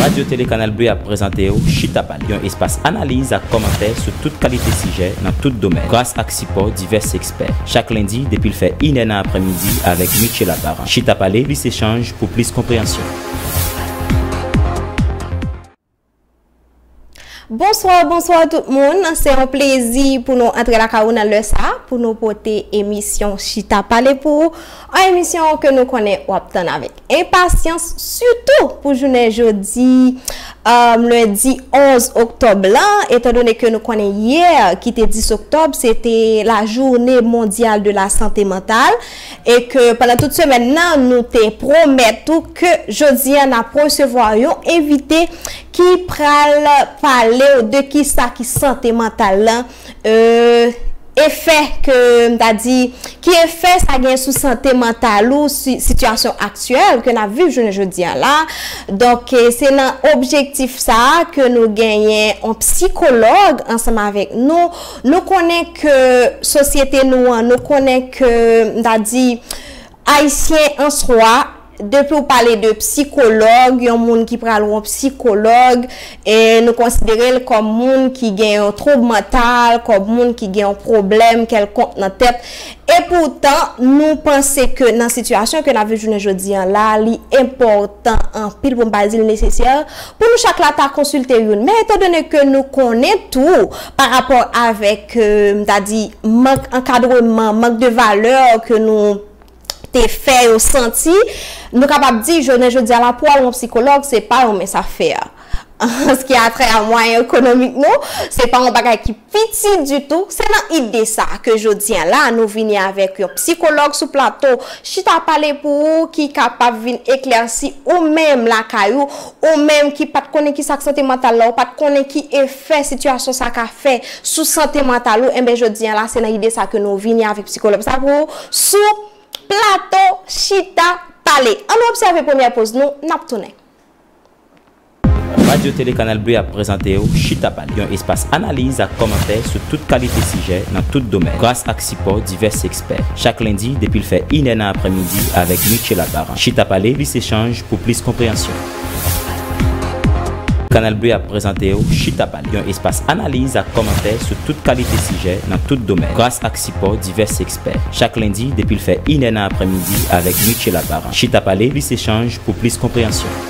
Radyo Tele Kanal Bleu ap prezante w Chita Pale, yon espas analiz ak kòmantè sou tout kalite sijè nan tout domèn, gras ak sipò divès ekspè. Chak lendi, depi l fè inè nan aprèmidi, avèk Mitchela Parent. Chita Pale, plis echanj pou plis konpreyansyon. Bonsoir bonsoir tout moun, se yon plezi pou nou antre lakay ou nan lè sa pou nou pote emisyon chita pale pou ou, an emisyon ke nou konnen wap tann avèk enpasyans sitou pou jounen jodi lendi 11 oktòb lan etan done ke nou konnen yè ki te 10 oktòb se te la joune mondyal de la sante mantal. e ke pandan tout semèn nan nou te pwomèt ou ke jodi an nap resevwa yon envite ki pral palew de kisa ki sante mantal lan e efè ke m ta di ki efè sa gen sou sante mantal ou si sitiyasyon aktyèl ke nap viv jounen jodi an la donk se nan objektif sa ke nou genyen yon psikològ ansanm avèk nou Nou konnen ke sosyete nou an, nou konnen ke m ta di Ayisyen an swa, depi ou pale de psikològ, yon moun ki pral wè yon psikològ, e nou konsidere l kòm moun ki gen yon twoub mantal, kòm moun ki gen yon pwoblèm kèlkonk nan tèt. E poutan, nou panse ke nan sitiyasyon ke n ap viv jounen jodi an la, li enpòtan anpil, pou m pa di l nesesè, Pou nou chak la ta konsilte youn. Men etandone ke nou konnen tou pa rapò avèk m ta di mank ankadreman, mank de valè ke nou te fè yo santi, nou kapab di jounen jodi a la pou al wè yon psikològ se pa yon mens afè. An se ki a trè a mwayen ekonomik nou, se pa yon bagay ki. Piti ditou, se nan ide sa a ke jodi a la a nou vini avèk yon psikològ sou plato chita pale pou ou ki kapab vin eklèsi ou menm lakay ou, ou menm ki pat konnen kisa k sante mantal la, ou pat konnen ki efè sitiyasyon sa ka fè sou sante mantal ou, enben jodi a la se nan ide sa a ke nou vini avèk psikològ sa pou ou sou plato chita pale. An nou obsève premyè poz nou, n ap tounen. Radyo Tele Kanal Bleu ap prezante w Chita Pale, yon espas analiz ak kòmantè sou tout kalite sijè nan tout domèn, gras ak sipò divès ekspè. Chak lendi depi l fè inè nan aprèmidi avèk Michela Baran. Chita Pale, plis echanj pou plis konpreyansyon. Kanal Bleu ap prezante w Chita Pale, yon espas analiz ak kòmantè sou tout kalite sijè nan tout domèn, gras ak sipò divès ekspè. Chak lendi depi l fè inè nan aprèmidi avèk Michela Baran. Chita Pale, plis echanj pou plis konpreyansyon.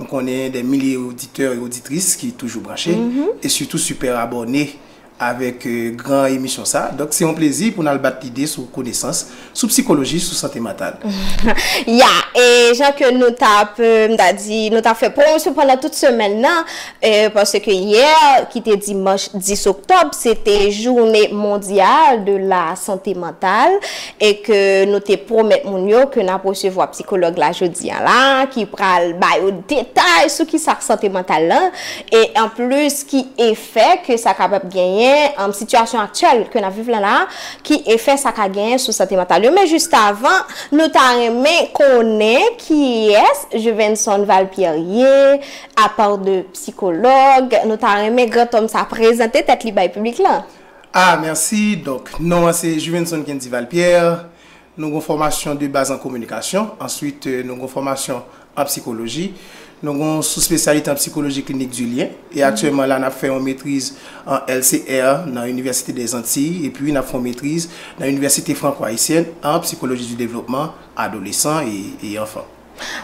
Nou konnen dè milye oditè e oditris ki toujou branche, e sitou sipèr abòne avèk gran emisyon sa. Donk se yon plezi pou n al bat lide sou konesans, sou psikoloji, sou sante mantal. Ya, e jan ke nou t ap, m ta di, nou t ap fè pwomosyon pandan tout semèn nan, paske yè ki te dimanch 10 oktòb, se te joune mondyal de la sante mantal. e ke nou te pwomèt moun yo ke n ap resevwa psikològ la jodi an la a ki pral ba yo detay sou kisa k sante mantal la e anplis ki efè ke sa kapab genyen, sitiyasyon aktyèl ke n ap viv la la a, ki efè sa ka genyen sou sante mantal yo. Men jistavan, nou ta renmen konnen kiyès Juvenson Valpierre ye, apart de psikològ, nou ta renmen grantòm sa prezante tèt li bay piblik lan. Ah merci donc non an se Juvenson Kendival Pierre Nou gon fòmasyon de baz an kominikasyon Ensuite nou gon fòmasyon an psikoloji Nou gon souspesyalite an psikoloji klinik du lien E aktyèlman la nap fè yon metriz an LCR nan Université des Antilles Epi nap fè yon metriz nan Université Franco Haïtienne an psikoloji du développement adolescent et enfant.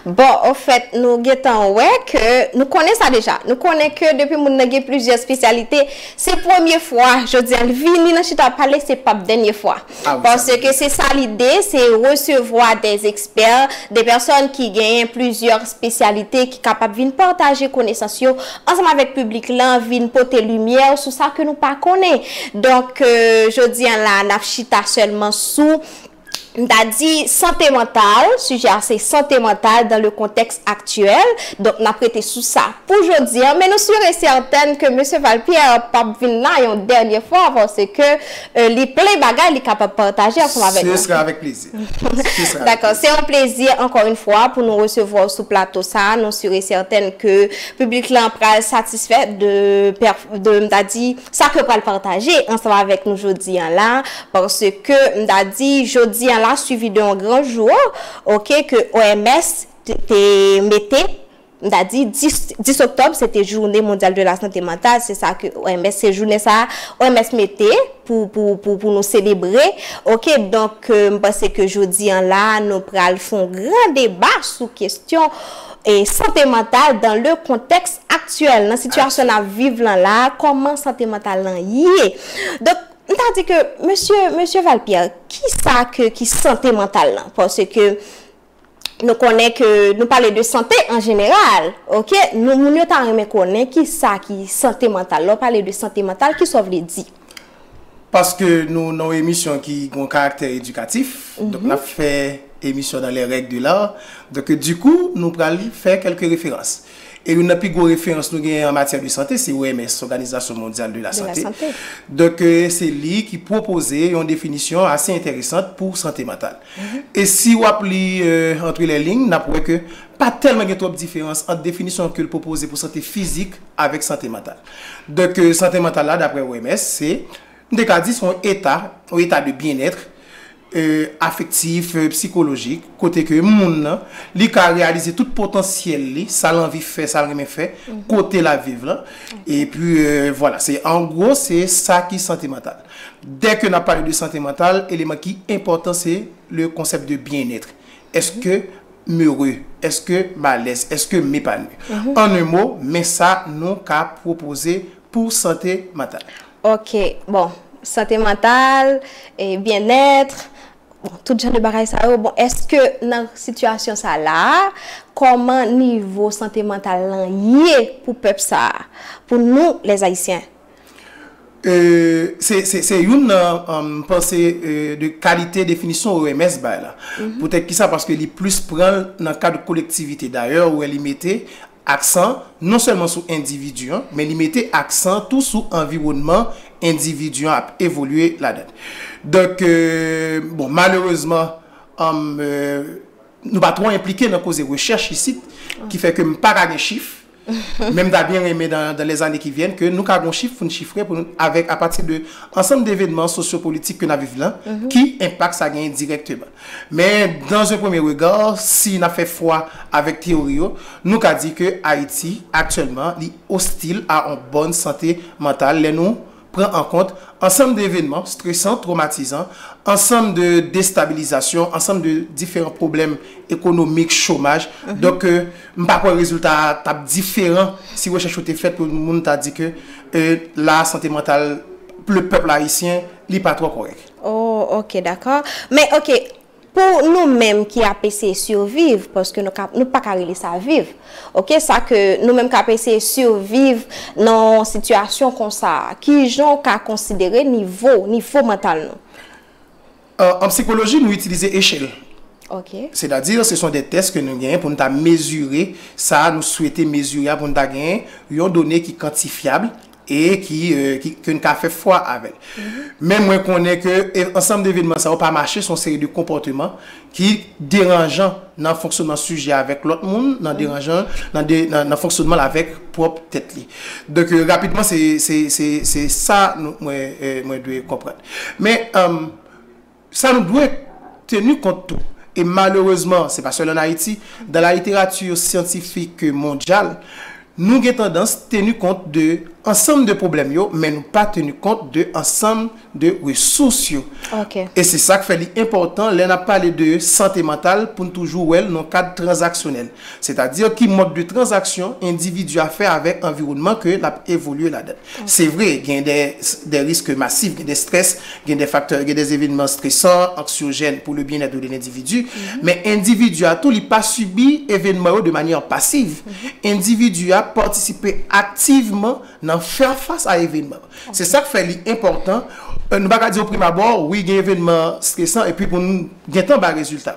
Bon, ofèt, nou gentan wè ke, nou konnen sa deja. Nou konnen ke depi moun nan gen plizyè spesyalite, se premye fwa, jodi a, li vini nan chita pale, se pap dènye fwa. Ah wi, sa vle di. Paske se sa lide, se resevwa dè ekspè, dè pèsòn ki genyen plizyè spesyalite ki kapab vin pataje konesans yo ansanm avèk piblik lan, vin pote limyè sou sa ke nou pa konnen. Donk, jodi a la a, n ap chita sèlman sou. M ta di sante mantal, sijè a se sante mantal dan le kontèks aktyèl, donk n ap rete sou sa pou jodi an, men nou sur e sètèn ke Mesye Val Pierre pa p vin la yon dènye fwa paske li plen bagay li kapab pataje ansanm avèk nou. Se sra avèk plezi. Dakò, se yon plezi ankò yon fwa pou nou resevwa w sou plato sa a, nou sur e sètèn ke piblik lan pral satisfè de, m ta di. Sa ke pral pataje ansanm avèk nou jodi an la, paske m ta di jodi an la suivi de yon gran jou ok ke OMS te mete, m ta di 10 oktòb se te joune mondyal de la sante mantal se sa ke OMS se jounen sa OMS mete pou pou nou selebre ok donk m panse ke jodi an la nou pral fon gran deba sou kestyon sante mantal dan le kontèks aktyèl, nan sitiyasyon n ap viv lan la a, kòman sante mantal lan ye. Donk, m ta di ke, mesye, mesye Val Pierre, ki sa ke ki sante mantal lan? Paske, nou konnen ke, nou pale de sante an jeneral, ok, nou moun yo ta renmen konnen ki sa ki sante mantal. Lè w pale de sante mantal, ki sa w vle di? Paske nou nan yon emisyon ki gen yon karaktè edikatif, donk n ap fè emisyon dans les règles de l'art, donk dikou nou pral fè kèlke referans. E youn nan pi gwo referans nou genyen an matyè de sante se OMS, Òganizasyon Mondyal de la Sante. Donk se li ki pwopoze yon definisyon ase enteresant pou sante mantal. E si w ap li antre lè lign, n ap wè ke pa tèlman gen twòp diferans ant definisyon ke l pwopoze pou sante fizik avèk sante mantal. Donk sante mantal la daprè OMS se, nou te ka di se yon eta, yon eta de byen être afektif, psikolojik, kote ke moun nan li ka reyalize tout potansyèl li, sa l anvi fè, sa l renmen fè, kote l ap viv lan, epi vwala, se an gwo se sa ki sante mantal. Dè ke n ap pale de sante mantal, eleman ki enpòtan se le konsèp de byen être, èske. m'heureux, est-ce que m'alèz, est-ce que m'epanoui. En un mot, men sa nou ka pwopoze pou sante mantal. Ok, bon, sante mantal, bien-être, bon, tout jan de bagay sa yo, bon, est-ce que nan sitiyasyon sa la a, kòman nivo sante mantal lan ye pou pèp sa a, pou nou les Haïtiens? Se youn nan m panse de kalite definisyon OMS bay la. Poutèt ki sa? Paske li plis pran l nan kad kolektivite. Dayè ou wè li mete aksan non sèlman sou endividi an, men li mete aksan tou sou anviwònman endividi an ap evolye ladan l. Donk, bon, malerezman, nou pa twò enplike nan koze rechèch isit, ki fè ke m pa ka gen chif. Men m ta byen renmen dan lè zane ki vyèn ke nou ka gon chif pou n chifre pou n avèk a pati de ansanm devenman sosyopolitik ke n ap viv la ki enpak sa genyen dirèkteman. Men dan ze premye rega si n ap fè fwa avèk teyori yo nou ka di ke Ayiti aktyèlman li ostil a on bòn sante mantal lè nou pran an kont ansanm de evenman stresan, twomatizan, ansanm de destabilizasyon, ansanm de diferan pwoblèm ekonomik, chomaj. Donk ke m pa kwè rezilta a t ap diferan si rechèch yo te fèt pou moun ta di ke la sante mantal le pèp ayisyen li pa twò kòrèk. O, ok, dakò. Men, ok, Pou nou menm ki ap eseye surviv, paske nou ka, nou pa ka rele sa viv. Ok, sa ke nou menm k'ap eseye surviv nan yon sitiyasyon konsa a, ki jan ou ka konsidere nivo, nivo mantal nou? An psikoloji nou itilize echèl. Ok. Sètadi, se son de tès ke nou genyen pou nou ta mezire sa nou swete mezire a, pou nou ta genyen yon done ki kantifyab, e ki ke n ka fè fwa avè l. Men mwen konnen ke ansanm de evenman sa yo pa mache, se yon seri de konpòteman ki deranjan nan fonksyonman sijè a avèk lòt moun, nan deranjan nan fonksyonman l avèk pwòp tèt li. Donk rapidman se sa mwen dwe konprann. Men Sa nou dwe tenu kont tou, e malerezman se pa sèl an Ayiti, dan la littérature scientifique mondyal, nou gen tandans tenu kont de ansanm de pwoblèm yo, men nou pa tenu kont de ansanm de resous yo. E se sa k fè li enpòtan lè n ap pale de sante mantal pou n toujou wè l nan yon kad tranzaksyonèl. Sètadi ki mòd de tranzaksyon endividi a fè avèk anviwònman ke l ap evolye ladan. Se vre, gen dè risk masif, gen dè strès, gen dè faktè, gen dè evènman stresan, anksyojèn pou le byennèt de lendividi, men endividi a tou li pa sibi evènman yo de manyè pasiv. Endividi a patisipe aktivman nan fè fas a evènman. Se sa k fè li enpòtan, nou pa ka di oprimabbò, wi gen evènman stresan epi pou n gentan bay rezilta.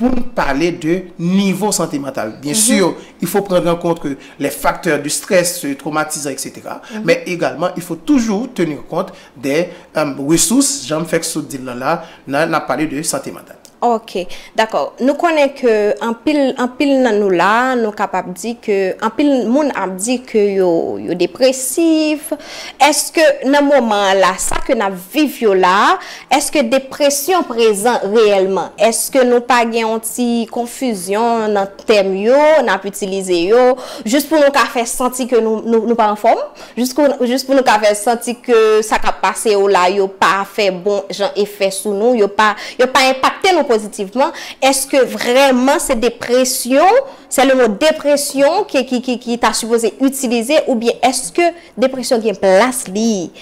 Pou n pale de nivo sante mantal, byen si il fo pran an kont ke lè faktè de strès, de twomatizan etc. Men egalman il fo toujou teni kont de resous jan m fèk sot di l lan la nan ap pale de sante mantal. Ok, dakò. Nou konnen ke anpil, anpil nan nou la a nou kapab di ke anpil moun ap di ke yo, yo depresif. Eske nan moman an la sa ke n ap viv yo la a, Èske depresyon prezan reyèlman? Èske nou pa gen yon ti konfizyon nan tèm yo n ap itilize yo jis pou nou ka fè santi ke nou pa anfòm? Jis pou nou ka fè santi ke sa k ap pase yo la yo pa fè bon jan efè sou nou, yo pa enpakte nou pozitivman? Èske vrèman se depresyon, se le mo depresyon ki ta sipoze itilize oubyen èske depresyon gen plas li?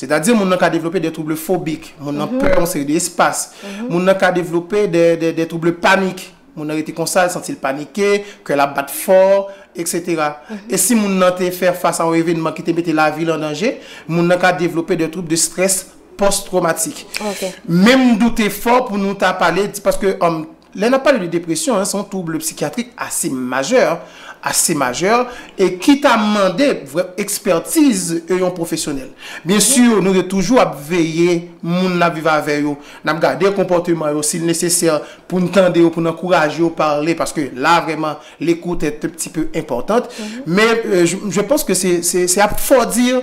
Sètadi moun nan ka devlope dè twouble fobik, moun nan pè yon seri de espas, moun nan ka devlope dè twouble panik, moun nan rete konsa, li santi li panike, kè l ap bat fò, eksetera. E si moun nan te fè fas a yon evenman ki te mete lavi l an danje, moun nan ka devlope dè twoub de strès pòs-twomatik. Men m doute fò pou nou ta pale, paske. Lè n ap pale de depresyon, se yon twouble psikyatrik ase majè, ase majè, e ki ta mande vrè ekspètiz yon pwofesyonèl. Byen si, nou te toujou ap veye moun n ap viv avè yo, n ap gade konpòteman yo, si l nesesè pou n tande yo, pou n ankouraje yo pale, paske la vrèman l'écoute est un petit peu importante, men je pense que c'est à fort dire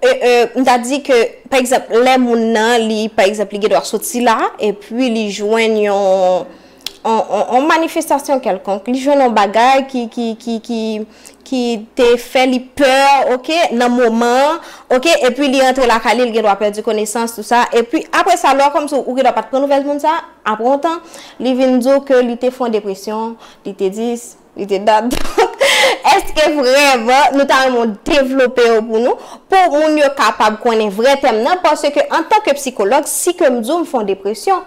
M ta di ke pa egzanp lè moun nan li pa egzanp li gen dwa soti la epi li jwenn yon yon manifestasyon kèlkonk, li jwenn yon bagay ki te fè li pè ok nan moman an ok epi li antre lakay li li gen dwa pèdi konesans tou sa epi apre sa lè w kòmanse ou gen dwa pa t pran nouvèl moun sa apre yon tan li vin di w ke li te fè yon depresyon li te di. Li te dab donk èske vrèman nou ta renmen w devlope yo pou nou pou moun yo kapab konnen vrè tèm nan paske antan ke psikològ si ke m di w m fè yon depresyon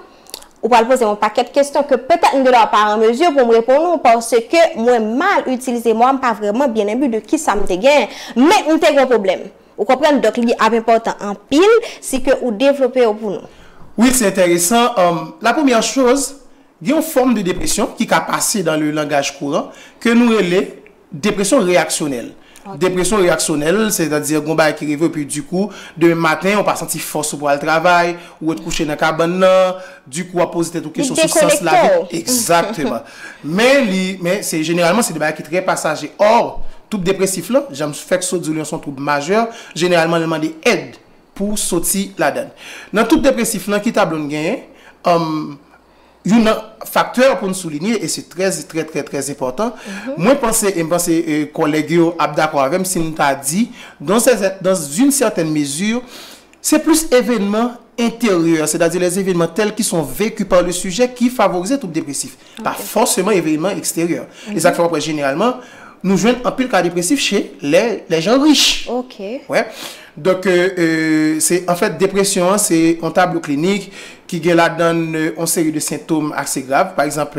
ou pral poze m yon pakèt kesyon ke petèt m gen dwa pa an mezi pou m reponn ou paske mwen mal itilize mo a m pa vrèman byen enbi de kisa m te genyen men m te gen yon pwoblèm ou konprann donk li ap enpòtan anpil si ke ou devlope yo pou nou. Wi se enteresan, la premyè choz Gen yon fòm de depresyon ki ka pase dan le langaj kouran ke nou rele depresyon reyaksyonèl. Depresyon reyaksyonèl, sètadi gen yon bagay ki rive w epi dikou, demen maten ou pa santi fòs ou pou al travay, ou ret kouche nan kabann nan, dikou w ap poze tèt ou kesyon sou sans lavi. Egzakteman. Men li, men se jeneralman se de bagay ki trè pasaje. Ò, twoub depresif lan, jan m fèk sot di w li yon son twoub majè, jeneralman li mande èd. pou w soti ladann. Nan tout depresif nan ki tablo n genyen, youn nan faktè pou n soulinye e se trè trè trè trè enpòtan, mwen panse e m panse kòlèg yo ap dakò avè m si m ta di dan zin sètèn mezi se plis evènman enteryè, sètadi lèzevènman tèl ki son veki pa le sijè ki favorize twoub depresif. pa fòseman evènman eksteryè. E sa k fè w ap wè jeneralman nou jwenn anpil ka depresif che lèjan rich. Donk, anfèt, depresyon an se yon tablo klinik ki gen ladan l yon seri de sentom ase grav. Pa egzanp,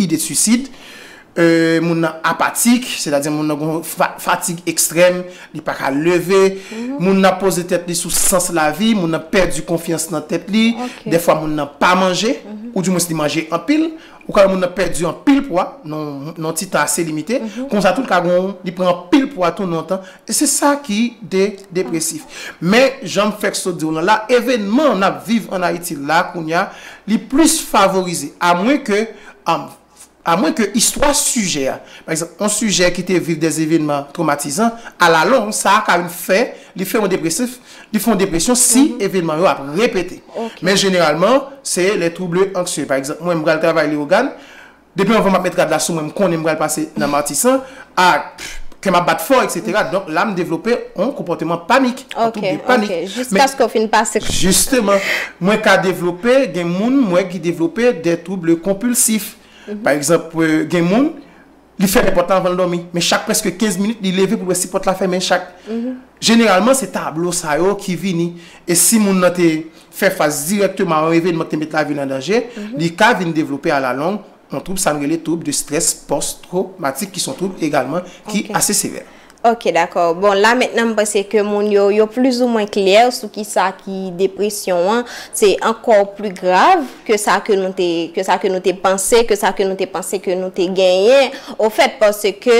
ide suisid, moun nan apatik, sètadi moun nan gen yon fatig ekstrèm. Li pa ka leve. Moun nan ap poze tèt li sou sans lavi. Moun nan pèdi konfyans nan tèt li. Dèfwa moun nan pa manje. Ou di mwens li manje anpil. Ou ka wè moun nan pèdi anpil pwa nan yon ti tan ase limite. Konsa tou li ka gen yon, li pran anpil pwa tou nan yon tan. E se sa ki de depresif. Men, jan m fèk sot di w lan la, evènman n ap viv an Ayiti la kounya, li plis favorize. A mwen ke, A mwen ke istwa sijè a, pa egzanp, yon sijè ki te viv dè evenman twomatizan, alalong, sa a ka vin fè li fè yon depresif, li fè yon depresyon si evenman yo ap repete. Men jeneralman, se lè twouble anksye. Pa egzanp, mwen m pral travay Leyogàn, depi anvan m ap met rad la sou mwen, m konnen m pral pase nan Matisan, a kèm ap bat fò etc. Donk la m devlope on konpòteman panik, on twoub de panik. Ok ok, jiskaske w fin pase k. Jisteman, mwen ka devlope, gen moun m wè ki devlope de twoub de konpilsif. Pa egzanp gen moun li fèmen pòt la anvan l dòmi, men chak prèske 15 minit li leve pou l wè si pòt la fèmen chak. Jeneralman se tablo sa yo ki vini e si moun nan te fè fas dirèkteman a on evenman ki te met lavi l an danje, li ka vin devlope alalong Yon twoub sa n rele twoub de strès pòs twomatik ki s on twoub egalman ki ase sevè. Ok dakò bon la mentnan m panse ke moun yo yo plis ou mwen klè sou kisa ki depresyon an se ankò pli grav ke sa ke nou te ke sa ke nou te panse ke sa ke nou te panse ke nou te genyen ofèt paske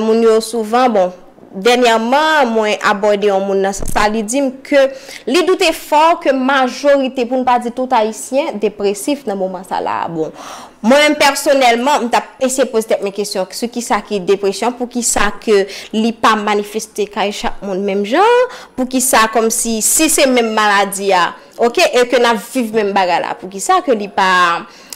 moun yo souvan bon Dènyèman, mwen abòde yon moun nan sans sa, li di m ke li doute fò ke majorite, pou n pa di tout Ayisyen, depresif nan moman sa la a. Bon, mwen menm pèsonèlman, m t ap eseye poze tèt mwen kesyon sou kisa ki depresyon, poukisa ke li pa manifeste kay chak moun menm jan, poukisa kòmsi, si se menm maladi a, ok, e ke n ap viv menm bagay la, poukisa ke li pa.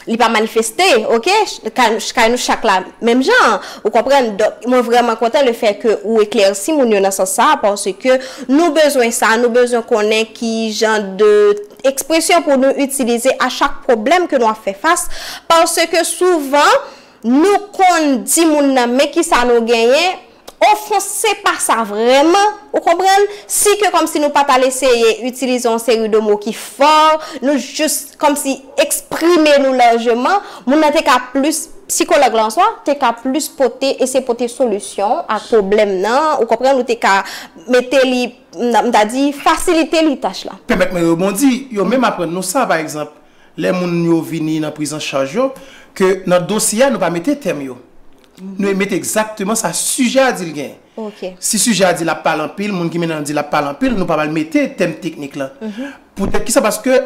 li pa manifeste ok kay nou chak la menm jan an ou konprann donk mwen vrèman kontan le fè ke ou eklèsi moun yo nan sans sa paske nou bezwen sa nou bezwen konnen ki jan de ekspresyon pou nou itilize a chak pwoblèm ke nou ap fè fas paske souvan nou konn di moun nan men kisa nou genyen O fon se pa sa vrèman, ou konprann? Si ke kòmsi nou pa t al eseye itilize yon seri de mo ki fò, nou jis kòmsi eksprime nou lajman, moun nan te ka plis, psikològ la answa, te ka plis pote, eseye pote solisyon ak pwoblèm nan, ou konprann, ou te ka mete li, m ta di, fasilite li tach la. Pèmèt mwen rebondi, yo menm aprann nou sa, pa egzanp, lè moun yo vini nan prizanchaj yo, ke nan dosye a nou pa mete tèm yo. Nou mete egzakteman sa sijè a di l gen. Ok. Si sijè a di l ap pale anpil, moun ki mennen an di l ap pale anpil, nou pa pral mete tèm teknik lan. Poutèt ki sa? Paske,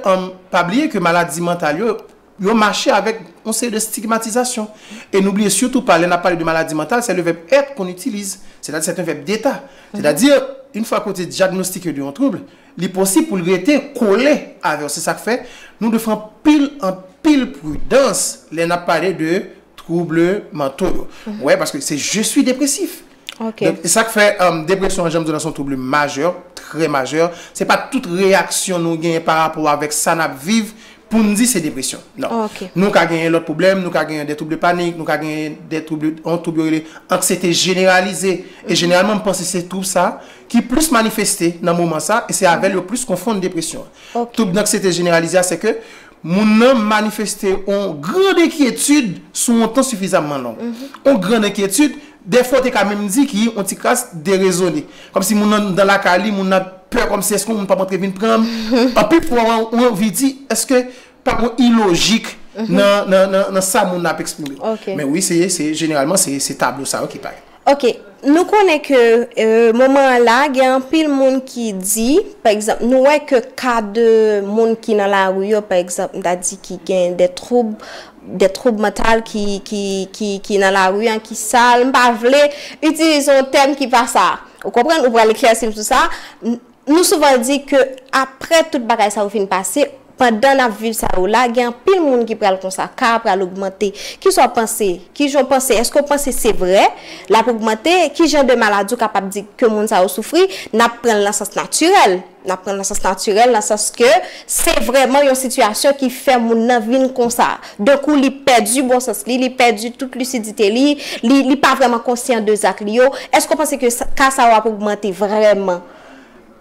pa bliye ke maladi mantal yo, yo mache avèk yon seri de stigmatizasyon. E nou bliye sitou pa lè n ap pale de maladi mantal, se le vèb être kon itilize. Sètadi sèt yon vèb deta. Sètadi, in fwa ke w te dyagnostike de yon twoubl, Li posib pou l rete kole avè w. Se sa k fè, nou dwe fè anpil anpil pridans lè n ap pale de twoub manto yo. Ou wè, paske se je sui depresif. Donk, se sa k fè depresyon an, jan m di w la, se yon twoub majè, trè majè. Se pa tout reyaksyon nou genyen pa rapò avèk sa n ap viv pou n di se depresyon. Non. Nou ka genyen lòt pwoblèm. Nou ka genyen de twoub de panik. Nou ka genyen de twoub, yon twoub yo rele anksyete jeneralize. E jeneralman, m panse se twoub sa ki plis manifeste nan moman sa e se avèl yo plis konfonn depresyon an. Twoub danksyete jeneralize a se ke moun nan manifeste yon grand enkyetid sou yon tan sifizamman long. Yon grand enkyetid, dèfwa w te ka menm di ki yon tikras derezone. Kòmsi moun nan nan lakay li, moun nan pè kòmsi èske yon moun pap antre vin pran m? Anpil fwa ou anvi di, èske Pa gen ilojik nan sa moun nan ap eksprime. Men wi, jeneralman, se tablo sa yo ki parèt. Ok. Nou konnen ke moman an la, gen anpil moun ki di, pa egzanp, nou wè ke ka de moun ki nan lari yo, pa egzanp, m ta di ki gen de twoub, de twoub mantal ki nan lari an, ki sal. M pa vle itilize yon tèm ki pa sa. Ou konprann? Ou pral eklèsi m sou sa. Nou souvan di ke apre tout bagay sa yo fin pase, pandan n ap viv sa yo la, gen anpil moun ki pral konsa, ka a pral ogmante. Kisa w panse? Kijan w panse? Eske w panse se vre? L ap ogmante? Kijan de maladi w kapab di ke moun sa yo soufri? N ap pran l nan sans natirèl. N ap pran l nan sans natirèl nan sans ke se vrèman yon sitiyasyon ki fè moun nan vin konsa. Dan kou li pèdi bon sans li, li pèdi tout lisidite li, li pa vrèman konsyan de zak li yo, èske ou panse ke ka sa yo ap ogmante vrèman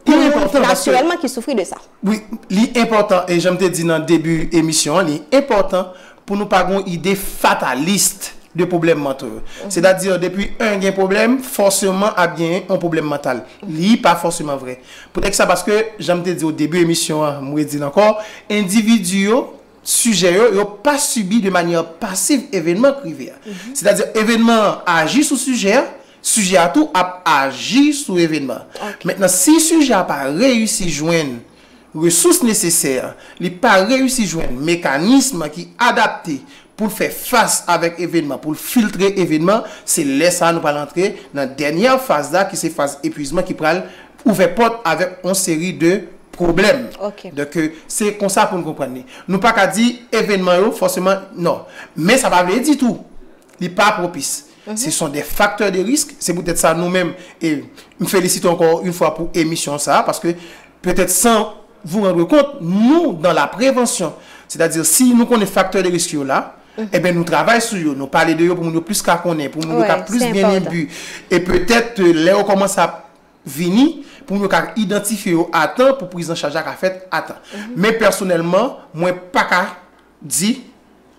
pou moun ki natirèlman ki soufri de sa? Wi, li enpòtan e jan m te di nan debi emisyon an, li enpòtan pou nou pa gen yon ide fatalist de pwoblèm manto yo. Sètadi depi 1 gen pwoblèm, fòseman ap gen yon pwoblèm mantal. Li pa fòseman vre. Poutèkisa? Paske jan m te di o debi emisyon an, m redi l ankò, endividi yo sijè yo, yo pa sibi de manyè pasiv evenman k rive a. Sètadi, evenman an aji sou sijè a, sijè a tou ap aji sou evenman an. Mentnan, si sijè a pa reyisi jwenn resous nesesè, li pa reyisi jwenn mekanism ki adapte pou l fè fas avèk evenman, pou l filtre evenman, se lè sa a nou pral antre nan dènyè faz la ki se faz epuizman ki pral ouvè pòt avèk yon seri de pwoblèm. Donk, se konsa pou n konprann li. Nou pa ka di evènman yo fòseman non. Men sa pa vle di tou li pa pwopis. Se son de faktè de risk. Se poutèt sa nou menm, m felisite w ankò yon fwa pou emisyon sa a paske petèt san vou randre kont, nou dan la prevansyon. Sètadi si nou konnen faktè de risk yo la, enben nou travay sou yo. Nou pale de yo pou moun yo plis ka konnen, pou moun yo ka plis byenyenbi. E petèt lè yo kòmanse ap vini pou yo ka idantifye yo a tan pou priz an chaj la ka fèt a tan. Men pèsonèlman, mwen pa ka di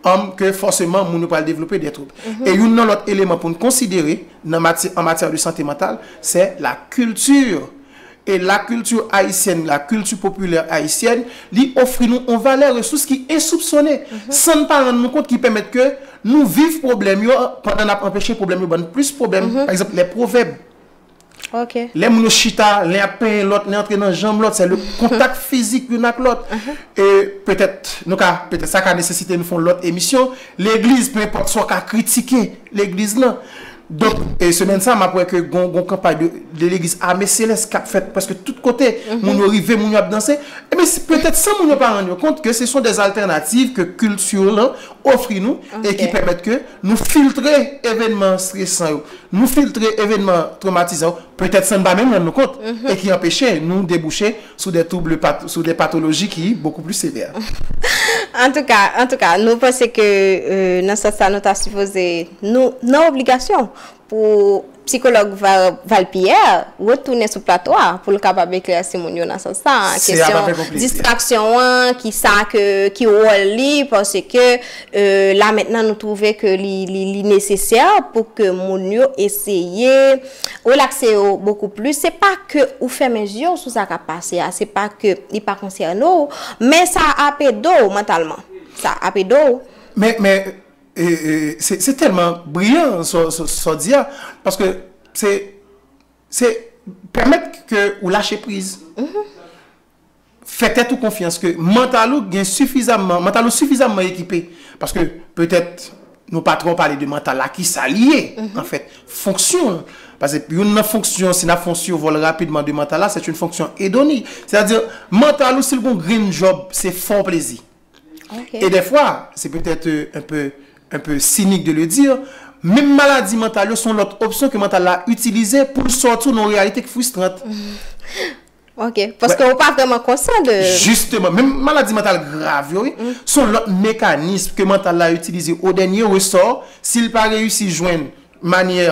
anm ke fòseman moun yo pral devlope dè twoub. E youn nan lòt eleman pou n konsidere nan maty an matyè de sante mantal, sè la kilti. E la kilti ayisyèn, la kilti popilè ayisyèn, li ofri nou on valè resous ki ensoupsone, san n pa rann nou kont ki pèmèt ke nou viv pwoblèm yo pandan n ap anpeche pwoblèm yo ban n plis pwoblèm, pa egzanp lè pwovèb. Ok. Lè moun yo chita, len ap penyen lòt, len antre nan janm lòt, sè le kontak fizik youn ak lòt. E petèt nou ka, petèt sa ka nesesite nou fè yon lòt emisyon. Legliz, pe enpòt sa w ka kritike legliz lan. Donk, e semèn sa a m ap wè ke gon, gon kanpay de, de legliz Ame Selès k ap fèt prèske tout kote. Moun yo rive, moun yo ap danse. Ebyen, se petèt san moun yo pa rann yo kont ke se son de altènativ ke kilti w lan ofri nou e ki pèmèt ke nou filtre evenman stresan yo. Nou filtre evenman twomatizan yo, petèt san n pa menm rann nou kont, e ki anpeche nou debouche sou de twouble, sou de patoloji ki bokou plis sevè. Antouka, antouka, nou panse ke nan sans sa nou ta sipoze, nou nan obligasyon pou psikològ Val Pierre retounen sou plato a pou l kapab eklèsi moun yo nan sans sa, kesyon distraksyon an, ki sa ke, ki wòl li, paske. la mentnan nou twouve ke li nesesè pou ke moun yo eseye relakse yo bokou plis, se pa ke ou fèmen zye w sou sa kap pase a, se pa ke li pa konsène w, men sa ap ede w mantalman, sa ap ede w. Men, men, se tèlman briyan sa w di a, paske se, se pèmèt ke ou lache priz, fè tèt ou konfyans ke mantal ou gen sifizamman, mantal ou sifizamman ekipe. Paske petèt nou pa twò pale de mantal la, ki sa li ye anfèt, fonksyon l. Pase youn nan fonksyon, si n ap fè yon sivòl rapidman de mantal la, sèt youn fonksyon edoni. Sètadi mantal ou si l gen yon grenn djòb, se fè w plezi. E dèfwa, se petèt un peu, un peu sinik de le dire, menm maladi mantal yo se yon lòt opsyon ke mantal la itilize pou l sòti w nan yon reyalite ki fristrant. Ok, paske ou pa vreman konsyan de. Jisteman, menm maladi mantal grav yo wi, son lòt mekanism ke mantal la itilize o dènye resò, si l pa reyisi jwenn manyè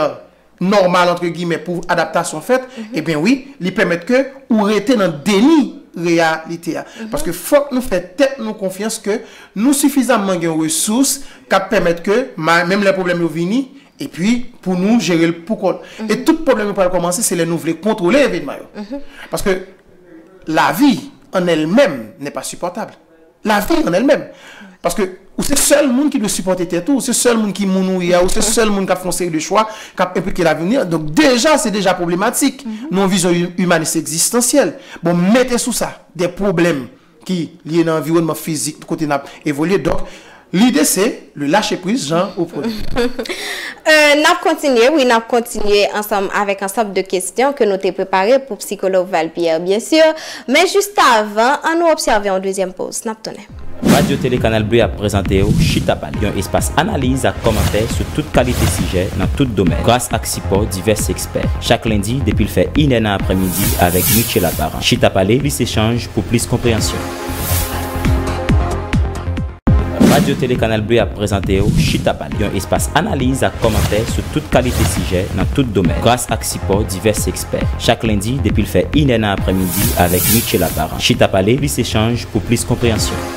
nòmal antre gimè pou adaptasyon fèt, ebyen wi, li pèmèt ke ou rete nan deni reyalite a. Paske fòk nou fè tèt nou konfyans ke nou sifizamman gen resous k ap pèmèt ke menm lè pwoblèm yo vini, Epi pou nou jere l pou kont. E tout pwoblèm yo pral kòmanse se lè nou vle kontwole evenman yo. Paske lavi an el menm nè pa sipòtab. Lavi an el menm. Paske ou se sèl moun ki dwe sipòte tèt ou. Ou se sèl moun ki moun ou ye a. Ou se sèl moun k ap fè yon seri de chwa k ap enplike lavni an. Donk deja se deja pwoblematik nan yon vizyon imanis egzistansyèl. Bon mete sou sa de pwoblèm ki lye nan anviwònman fizik kote n ap evolye. Donk, lide se le lache priz jan ou premye. N ap kontinye, wi, n ap kontinye ansanm avèk ansanb de kesyon ke nou te prepare pou psikològ Val Pierre, byen sur. Men jistavan, an nou obsève yon dezyèm poz. N ap tounen. Radyo Tele Kanal Bleu ap prezante w Chita Pale, yon espas analiz ak kòmantè sou tout kalite sijè nan tout domèn. Gras ak sipò divès Pè. Chak lendi depi l fè inè nan aprèmidi avèk Mitchela Parent. Chita pale, plis echanj pou plis konpreyansyon. Radyo Tele Kanal Bleu ap prezante w Chita pale, yon espas analiz ak kòmantè sou tout kalite sijè nan tout domèn, gras ak sipò divès ekspè. Chak lendi depi l fè inè nan aprèmidi avèk Mitchela Parent. Chita pale, plis echanj pou plis konpreyansyon.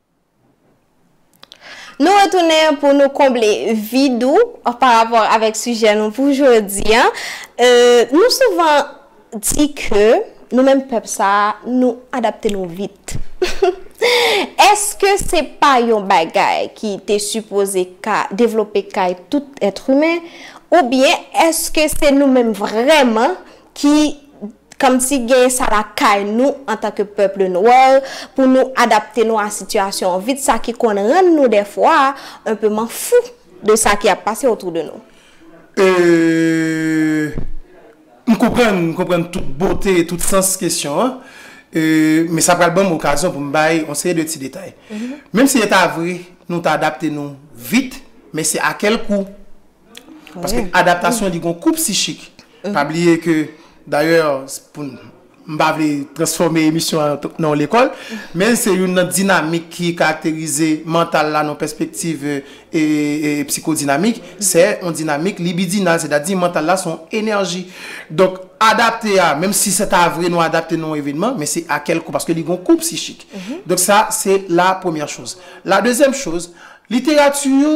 Nou retounen pou nou konble vid ou pa rapò avèk sijè nou pou jodi an. Nou souvan di ke nou menm pèp sa a, nou adapte nou vit. Eske se pa yon bagay ki te sipoze ka devlope kay tout èt imen? Oubyen eske se nou menm vrèman ki Kòmsi gen sa lakay nou antanke pèple nwè pou nou adapte nou a sitiyasyon an vit sa ki konn rann nou dèfwa un peu m'en fou de sa ki ap pase autour de nou. E M konprann, m konprann tout bote e tout sans kesyon an. E Men sa pral ban m okazyon pou m bay yon seri de ti detay. Menm si e ta vre nou ta adapte nou vit, men se a kèl kou? Paske adaptasyon li gon kou psichik. Pa bliye ke dayè pou n, m pa vle transfòme emisyon an nan yon lekòl, men se youn nan dinamik ki karakterize mantal la nan yon pèspektiv psikodinamik, se yon dinamik libidinal, sètadi mantal la se yon enèji. Donk adapte a, menm si se ta vre nou adapte nan yon evenman, men se a kèl kou, paske li gon kou psichik. Donk sa se la premyè choz. La dezyèm choz, literati yo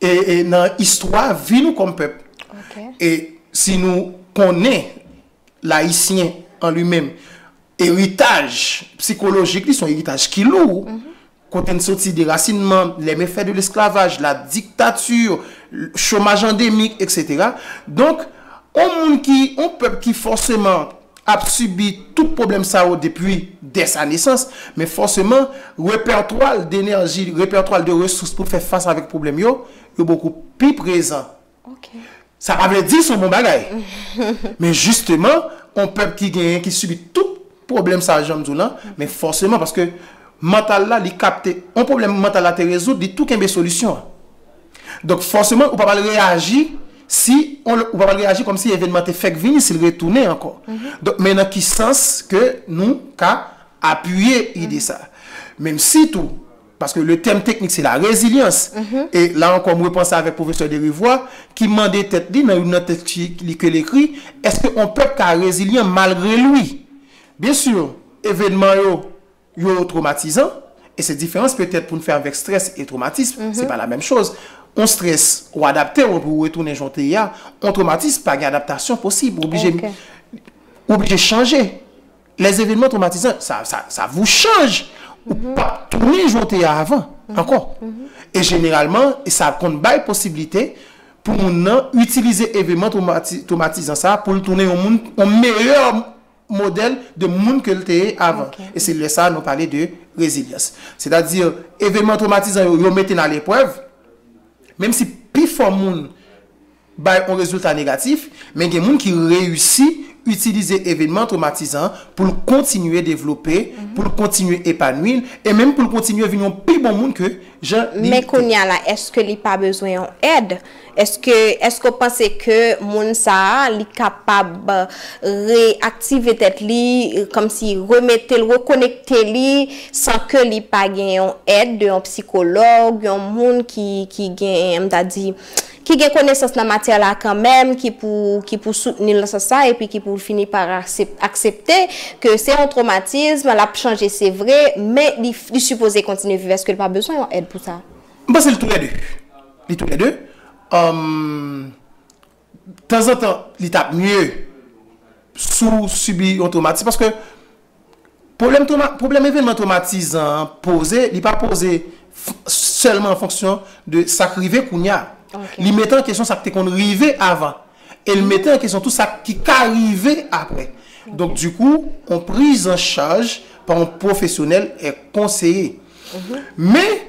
E nan istwa vi nou kòm pèp. E si nou konnen layisyen an li menm, eritaj psikolojik li son eritaj ki lou. Kote n soti derasinman, les méfaits de l'esclavage, la dictature, chomaj andemik, etc. Donk, on moun ki, on pèp ki fòseman. ap sibi tout pwoblèm sa yo depi dè sa nesans, men fòseman, repètwa l denèji, repètwa l de resous pou l fè fas avèk pwoblèm yo, yo bokou pi prezan. Sa pa vle di s on bon bagay, men jisteman, on pèp ki genyen, ki sibi tout pwoblèm sa jan m di w lan, men fòseman, paske mantal la, li kapte, on pwoblèm mantal la te rezoud, li tou kenbe solisyon an. Donk fòseman ou pa pral reyaji si on lòt ou pa pral reyaji kòm si evènman te fèk vini si l retounen ankò. Donk men nan ki sans ke nou ka apiye ide sa. Menm si tou, paske le tèm teknik se la rezilyans, e la ankò m repanse avèk pwofesè Derivois ki mande tèt li nan youn nan tèks ki li ke l ekri, èske on pèp ka rezilyan malgre lwi? Byensi, evènman yo Yo twomatizan, e se diferans petèt pou n fè avèk strès e twomatism, se pa lamenm choz. On strès, ou adapte w epi ou retounen jan w te ye a. On twomatism, pa gen adaptasyon posib, ou oblije ou oblije chanje. Les événements traumatisants, sa sa sa vous change, ou p ap tounen jan w te ye a avan ankò. E jeneralman, e sa konn bay posiblite pou moun nan itilize evenman twomati twomatizan sa a pou l tounen yon moun, yon meyè modèl de moun ke l te ye avan. E se lè sa a nou pale de rezilyans. Sètadi, evenman twomatizan yo, yo mete n a leprèv, menm si pi fò moun bay yon rezilta negatif, men gen moun ki reyisi itilize evenman twomatizan pou l kontinye devlope, pou l kontinye epanwi, e menm pou l kontinye vin yon pi bon moun ke jan li te. Men kounye a la, èske li pa bezwen yon èd? Eske eske w panse ke moun sa a li kapab reaktive tèt li kòmsi remete l rekonekte li san ke li pa gen yon èd de yon psikològ yon moun ki ki gen m ta di ki gen konesans nan matyè la kanmèm ki pou ki pou soutni l nan sans sa epi ki pou l fini pa aksepte ke se yon twomatism l ap chanje se vre men li sipoze kontinye viv eske l pa bezwen yon èd pou sa? M panse l tou lè de. Li tou lè 2 humm tanzantan li tap mye sou sibi yon twomatis paske pwoblèm twoma pwoblèm evènman twomatizan an poze li pa poze sèlman an fonksyon de sak rive kounya li mete an kesyon sak te konn rive avan el mete an kesyon tou sak ki ka rive aprè donk di kou yon prizanchaj pa yon pwofesyonèl e konseye men.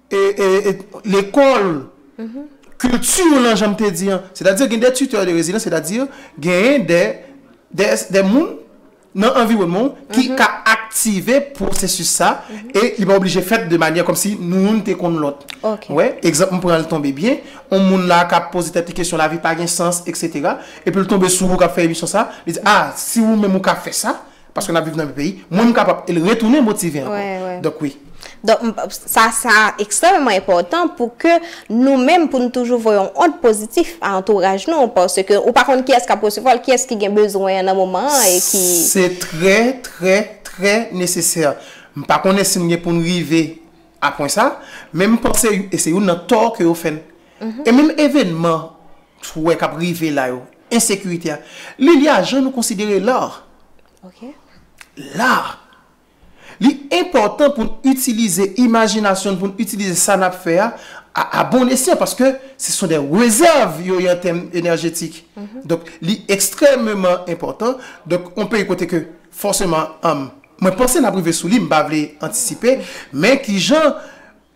lekòl, kilti w lan jan m te di an. Sètadi gen de tuteurs de résidence, sètadi genyen de moun nan anviwònman w ki ka aktive pwosesis sa e li pa oblije fèt de manyè kòm si nou youn te konn lòt. Ou wè? Egzanp m pran l tonbe byen, yon moun la k ap poze tèt li kesyon lavi pa gen sans eksetera epi l tonbe sou ou k ap fè emisyon sa, li di a si ou menm ou ka fè sa, Paske nap viv nan menm peyi. Mwen m kapab el retounen motive ankò. Donk wi. Donk sa sa ekstrèmeman enpòtan pou ke nou menm pou nou toujou voye yon ond pozitif a antouraj nou paske ou pa konn kiyès kap resevwa l, kiyès ki gen bezwen an nan moman an e ki. Se trè trè trè nesesè. M pa konnen si nou gen pou nou rive a pwen sa, men m panse e se youn nan tò ke yo fè n. E menm evenman. Twè kap rive la yo. Ensekirite a. Lilia jan nou konsidere lar. Ok. Lar. Li enpòtan pou n itilize imajinasyon n pou n itilize sa nap fè a a bon esyan paske se son de rezèv yo ye an tèm enèjetik. Donk li ekstrèmeman enpòtan. Donk yon peyi kote ke fòseman mwen panse nap rive sou li m pa vle antisipe men kijan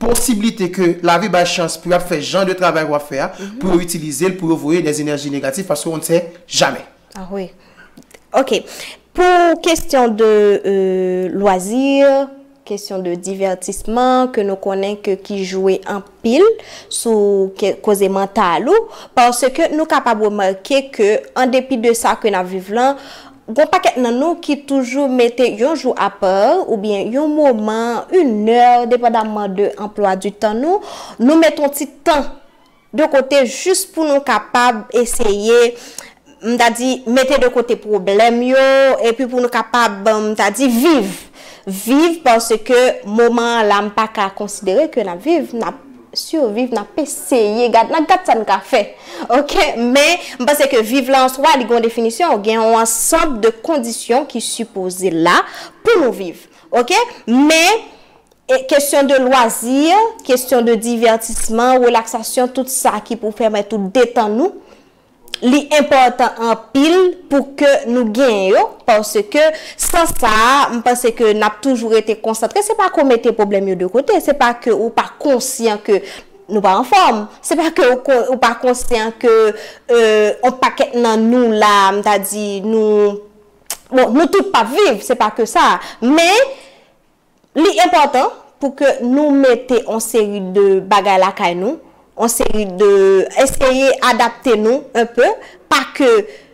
posiblite ke lavi bay chans pou yap fè jan de travay wap fè a, pou yo itilize l pou yo voye dè enèji negatif paske on ne sè jamè. Ah wi. Ok. Pou kestyon de lwazi, kestyon de divètisman ke nou konnen ke ki jwe anpil sou koze mantal ou, paske nou kapab remake ke an depi de sa ke nap viv lan, Gon pakèt nan nou ki toujou mete yon jou a par oubyen yon moman, yn nè depandamman de anplwa di tan nou, nou met yon ti tan de kote jis pou nou kapab eseye m ta di mete de kote pwoblèm yo epi pou nou kapab m ta di viv, viv paske moman an la m paka konsidere ke nap viv, nap Surviv nap eseye gad nan gad sa n ka fè ok men m panse ke viv la answa li gon definisyon gen yon ansanb de kondisyon ki sipoze la pou nou viv ok men e kesyon de lwazi kesyon de divètisman relaksasyon tout sa ki pou pèmèt ou detann ou. li enpòtan anpil pou ke nou genyen yo, paske san sa a, m panse ke n ap toujou rete konsantre, se pa ke w mete pwoblèm yo de kote, se pa ke ou pa konsyan ke nou pa anfòm, se pa ke ou pa konsyan ke yon pakèt nan nou la, m ta di nou, bon, nou tout pa p viv, se pa ke sa, men. Li enpòtan pou ke nou mete on seri de bagay lakay nou, on seri de, eseye adapte nou un peu, pa ke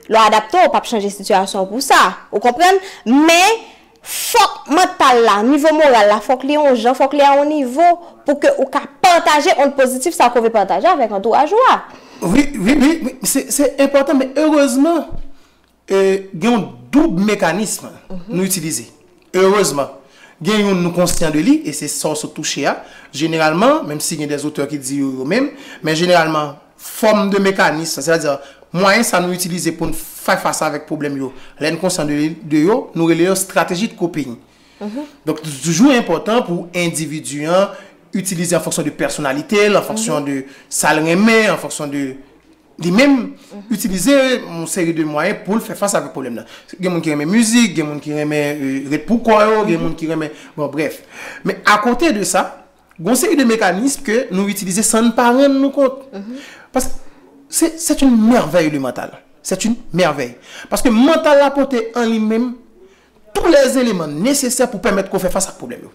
lè w adapte w pap chanje sitiyasyon w pou sa, ou konprann, men fòk mantal la, nivo moral la fòk li on jan, fòk li a on nivo pou ke ou ka pataje ond pozitif sa ke w vle pataje avèk antouraj ou a. Wi, wi, wi, wi, se, se enpòtan men erezman Gen yon doub mekanism nou itilize. Erezman, gen youn nou konsyan de li, e se sa w sot touche a. Jeneralman, menm si gen dè zotè ki di yo yo menm, men jeneralman, fòm de mekanism sa, sètadi mwayen sa nou itilize pou n fè fas avèk pwoblèm yo, lè n konsyan de yo, nou rele yo strateji de coping. Donk, li toujou enpòtan pou endividi an itilize an fonksyon de pèsonalite l, an fonksyon de sa l renmen, an fonksyon de. li menm itilize yon seri de mwayen pou l fè fas avèk pwoblèm nan. Gen moun ki renmen mizik, gen moun ki renmen ret pou kò yo, gen moun ki renmen, bon brèf. Men akote de sa, gen yon seri de mekanism ke nou itilize san n pa rann nou kont. Paske se, c'est une merveille le mental. C'est une merveille. Paske mantal la pote an li menm tou lè eleman nesesè pou pèmèt ke w fè fas ak pwoblèm yo.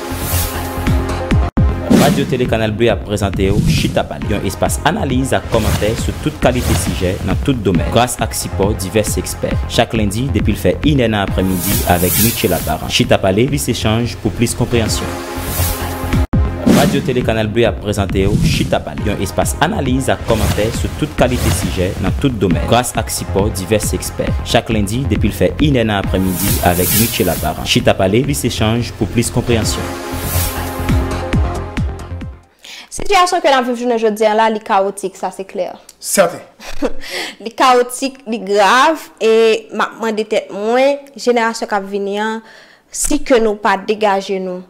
Radyo Tele Kanal Bleu ap prezante w Chita Pale, yon espas analiz ak kòmantè sou tout kalite sijè nan tout domèn, gras ak sipò divès ekspè. Chak lendi depi l fè inè nan aprèmidi avèk Michela Parent. Chita Pale, plis echanj pou plis konpreyansyon. Radyo Tele Kanal Bleu ap prezante w Chita Pale, yon espas analiz ak kòmantè sou tout kalite sijè nan tout domèn, gras ak sipò divès. Pè. Chak lendi depi l fè inè nan aprèmidi avèk Mitchela Parent. Chita pale, plis echanj pou plis konpreyansyon. Sitiyasyon ke n ap viv jounen jodi an la, li kawotik, sa se klè. Sèten. Li kawotik, li grav e m ap mande tèt mwen, jenerasyon k ap vini an, si ke nou pa degaje nou.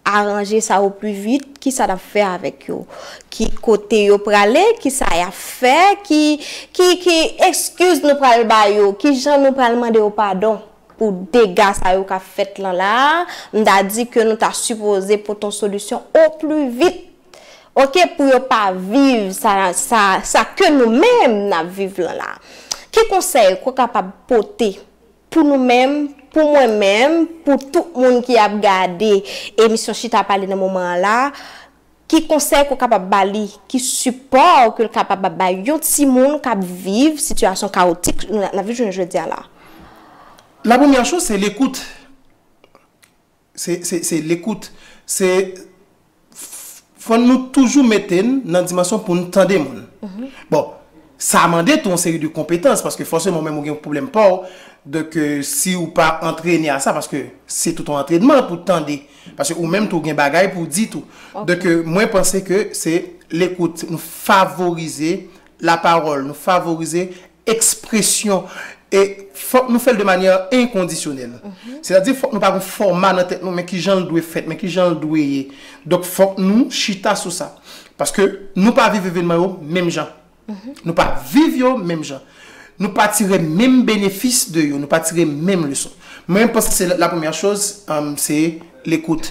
Aranje sa o pli vit, kisa nap fè avèk yo? Ki kote yo prale? Kisa yap fè? Ki ki ki ekskiz nou pral ba yo? Kijan nou pral mande yo padon pou dega sa yo kap fèt lan la a? M ta di ke nou ta sipoze pote yon solisyon o pli vit ok pou yo pa viv sa sa sa ke nou menm nap viv lan la a. Ki konsèy ou kapab pote Pou nou menm, pou mwen menm, pou tout moun ki ap gade emisyon Chita Pale nan moman an la, ki konsèy ke w kapab ba li, ki sipò ke l kapab ap bay yon timoun k ap viv sitiyasyon kawotik nou nan viv jounen jodi a la? Lapremyè chòz se lekout. se lekout. Se fò nou toujou mete n nan dimansyon pou n tande moun. Bon, sa mande tou yon seri de konpetans paske fòseman ou menm ou gen pwoblèm pa w. Donk si ou pa antrene a sa, paske se tout yon antrenman pou tande. Paske ou menm tou gen bagay pou w di tou. Donk mwen panse ke se lekout. Nou favorize lapawòl. Nou favorize Ekspresyon e fòk nou fè l de manyè enkondisyonèl. Sètadi fòk nou pa gon fòma nan tèt nou men ki jan l dwe fèt, men ki jan l dwe ye. Donk fòk nou chita sou sa. Paske nou pa viv evenman yo menm jan. Nou pa viv yo menm jan. Nou pa tire menm benefis de yo. Nou pa tire menm leson. Mwen panse se la premyè choz se lekout.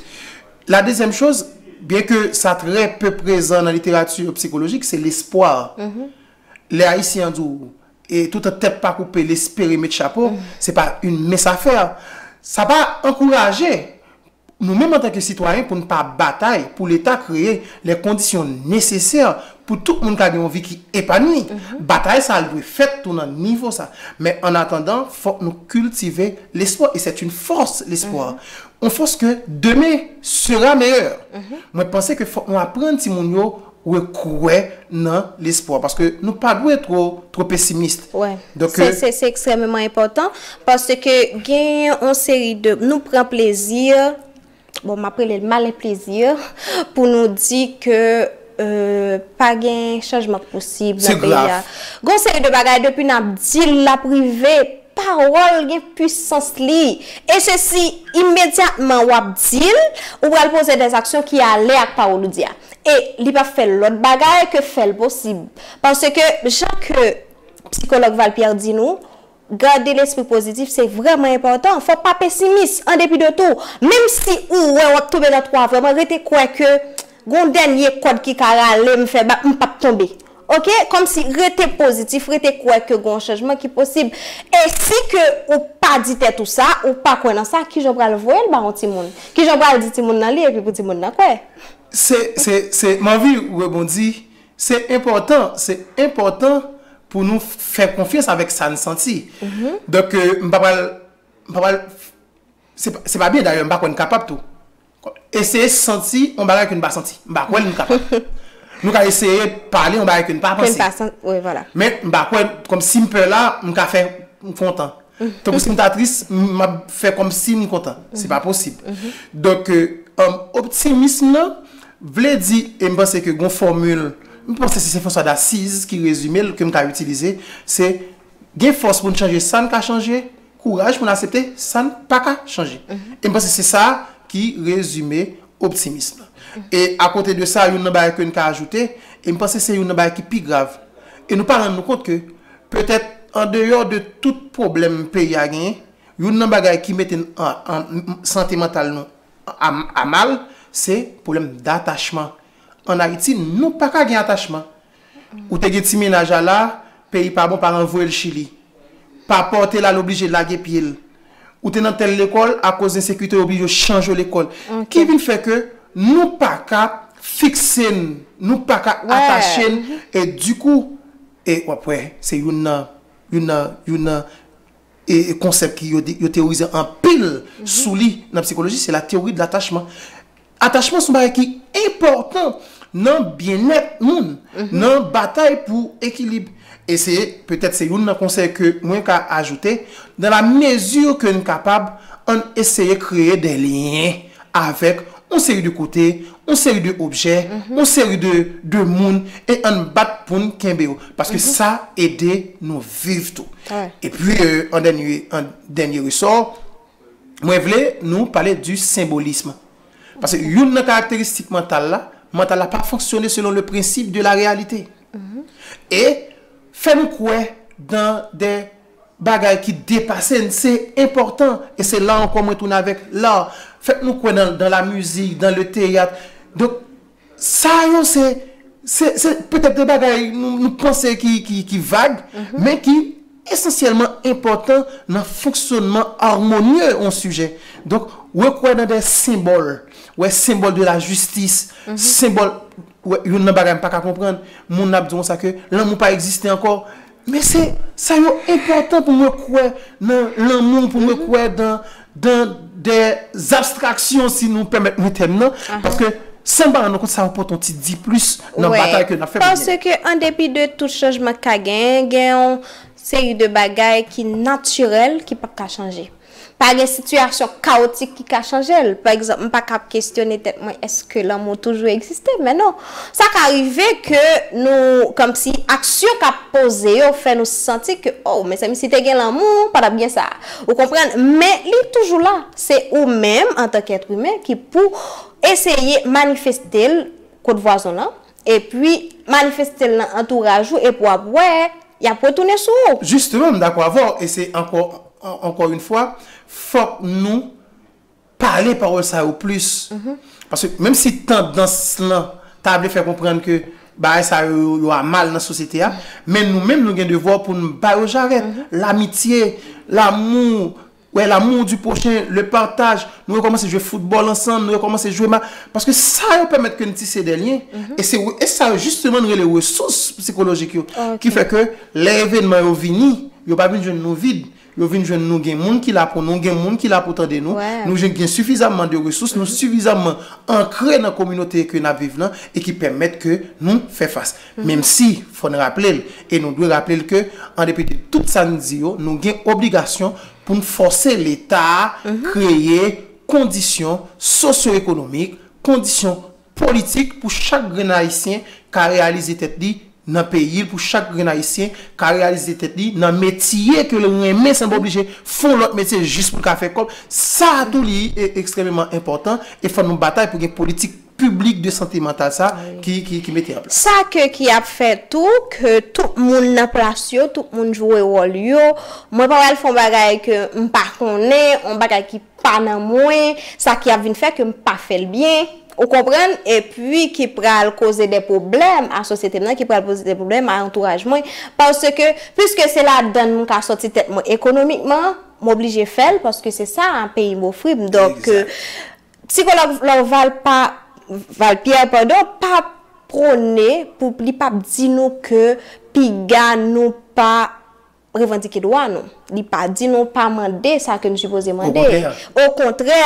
La dezyèm choz, byen ke sa trè pe prezan nan literati psikolojik, se lespwa. Lè Ayisyen an di w, e toutan tèt pa koupe l espere met chapo, se pa une mince affaire. Sa pa ankouraje nou menm antanke sitwayen pou n pa batay pou Leta kreye lè kondisyon nesesè pou tout moun ka gen yon vi ki epanwi. Batay sa l dwe fèt tou nan nivo sa. Men an atandan, fòk nou kiltive lespwa e sèt une force lespwa. Yon fòs ke demen sera meilleur. Mwen panse ke fòk nou aprann timoun yo rekwè nan lespwa, paske nou pa dwe two, two pesimist. Wè. Se, se, se ekstrèmeman enpòtan, paske genyen yon seri de, nou pran plezi, bon m ap rele l malen plezi, pou nou di ke pa gen chanjman k posib nan peyi a. Se grav. Gon seri de bagay depi n ap di l l ap rive. Pawòl gen pwisans li. E se si imedyatman w ap di l, ou pral poze dè aksyon ki ale ak pawòl ou di a. E li pa fè lòt bagay ke fè l posib. Paske, jan ke psikològ Val Pierre di nou, gade lespri pozitif se vrèman enpòtan. Fò w pa pesimis, an depi de tou. Menm si ou wè w ap tonbe nan twa vrèman, rete kwè ke. Gon dènye kòd ki ka rale m fè bak m pap tonbe ok kòmsi rete pozitif rete kwè ke gon chanjman ki posib e si ke ou pa di tèt ou sa ou pa kwè nan sa kijan ou pral voye l ba yon timoun kijan ou pral di timoun nan li epi pou timoun nan kwè. Se se se m anvi rebondi se enpòtan se enpòtan pou nou fè konfyans avèk sa n santi donk m pa pral m pa pral se pa se pa byen dayè m pa kwè n kapab tou. Eseye santi yon bagay ke nou pa santi. M pa kwè nou kapab. Nou ka eseye pale yon bagay ke nou pa panse. Ke nou pa san, wi, vwala. Men, m pa kwè, kòm si m pè la, m ka fè m kontan. Tankou si m ta tris, m ap fè kòm si m kontan. Se pa posib. Donk, optimism nan vle di, e m panse ke gen yon fòmil, m panse se Sen Franswa Dasiz ki rezime l, ke m ka itilize, se gen fòs pou n chanje sa n ka chanje, kouraj pou n asepte sa n pa ka chanje. E m panse se sa ki rezime optimism nan. E akote de sa, youn nan bagay ke n ka ajoute, e m panse se youn nan bagay ki pi grav, e nou pa rann nou kont ke petèt andeyò de tout pwoblèm peyi a genyen, youn nan bagay ki mete sante mantal nou a mal, se pwoblèm datachman. An Ayiti, nou pa ka gen atachman. Ou te gen ti mennaj a la, peyi pa bon paran voye l chili. Papa w te la l oblije lage pye l. Ou te nan tèl lekòl akoz ensekirite yo oblije w chanje w lekòl. Ki vin fè ke nou pa ka fikse n, nou pa ka atache n e di kou e w ap wè se youn nan youn nan youn nan e konsèp ki yo yo teyorize anpil sou li nan psikoloji se la théorie de l'attachement. Atachman son bagay ki enpòtan nan byennèt moun, nan batay pou ekilib. E se petèt se youn nan konsèy ke mwen ka ajoute, dans la mesure ke n kapab, ann eseye kreye des liens avèk yon seri de kote, yon seri de objè, yon seri de de moun e ann bat pou n kenbe yo. Paske sa ede nou viv tou. Epi an dènye, an dènye resò, Mwen vle nou pale di senbolism. Paske youn nan karakteristik mantal la, mantal la pa fonksyone selon le prensip de la reyalite. E fè nou kwè dan de bagay ki depase n, se enpòtan. E se la ankò mwen tounen avèk la. Fè nou kwè dan la mizik, dan le teyat. Donk. Sa yo se se petèt de bagay nou panse ki vag, men ki esansyèlman enpòtan nan fonksyònman armonye yon sijè. Donk, wè kwè nan de senbòl, wè senbòl de la jistis, senbòl, wè youn nan bagay m pa ka konprann, moun ap di w konsa ke lanmou pa egziste ankò, Men se sa yo enpòtan pou mwen kwè nan lanmou, pou mwen kwè dan dan dè zabstraksyon si nou pèmèt mwen tèm nan, paske san ba rann kont sa ranpòte yon ti diplis nan batay ke nap fè pou genyen. Paske an depi de tout chanjman k ka genyen, gen yon seri de bagay ki natirèl ki pap ka chanje. Pa gen sitiyasyon kawotik ki ka chanje l. Pa egzanp, m pa ka ap kesyone tèt mwen èske lanmou toujou egziste? Men non. Sa ka rive ke nou, kòmsi aksyon k ap poze yo fè nou santi ke, o, mezanmi si te gen lanmou, pa t ap gen sa. Ou konprann? Men li toujou la. Se ou menm, antanke èt imen, ki pou eseye manifeste l kot vwazon w lan, Epi manifeste l nan antouraj ou epi w ap wè y ap retounen sou ou. Jisteman m dakò avè w e se ankò ankò yn fwa fòk nou pale pawòl sa yo plis paske menm si tandans lan ta vle fè konprann ke bagay sa yo yo amal nan sosyete a men nou menm nou gen devwa pou n ba yo jarèt lamitye lamou Wè l'amour du prochain, le partage, nou rekòmanse jwe foutbòl ansanm, nou rekòmanse jwe ma, paske sa yo pèmèt ke n tise dè lyen, e se e sa yo jisteman n rele resous psikolojik yo, ki fè ke lè evènman yo vini, yo pa vin jwenn nou vid, yo vin jwenn nou gen moun ki la pou nou, gen moun ki la pou tande nou, nou jwenn gen sifizamman de resous, nou sifizamman ankre nan kominote ke n'ap viv lan, e ki pèmèt ke nou fè fas. Menmsi, fò n raple l, e nou dwe raple l ke, an depi de tout sa n di yo, nou gen obligasyon pou n fòse Leta a kreye kondisyon sosyoekonomik, kondisyon politik pou chak grenn Ayisyen ka reyalize tèt li nan peyi l, pou chak grenn Ayisyen ka reyalize tèt li nan metye ke l renmen san l pa oblije fè yon lòt metye jis pou l ka fè kòb. Sa a tou li ekstrèmeman enpòtan e fò nou batay pou gen politik piblik de sante mantal sa ki mete an plas. Sa ke ki ap fè tou ke tout moun nan plas yo, tout moun jwe wòl yo, mwen pa pral fè yon bagay ke m pa konnen, yon bagay ki pa nan mwen, sa ki ap vin fè ke m pa fè l byen, ou konprann, e pi ki pral koze de pwoblèm a sosyete m nan, ki pral poze de pwoblèm a antouraj mwen, paske, piske se ladann m ka sòti tèt mwen ekonomikman, m oblije fè l, paske se sa peyi m ofri m, donk, Psikològ Lorval pa Val Pierre padon pa pwone pou li pa p di nou ke piga nou pa revandike dwa nou. Li pa di nou pa mande sa ke nou sipoze mande. Okontrè.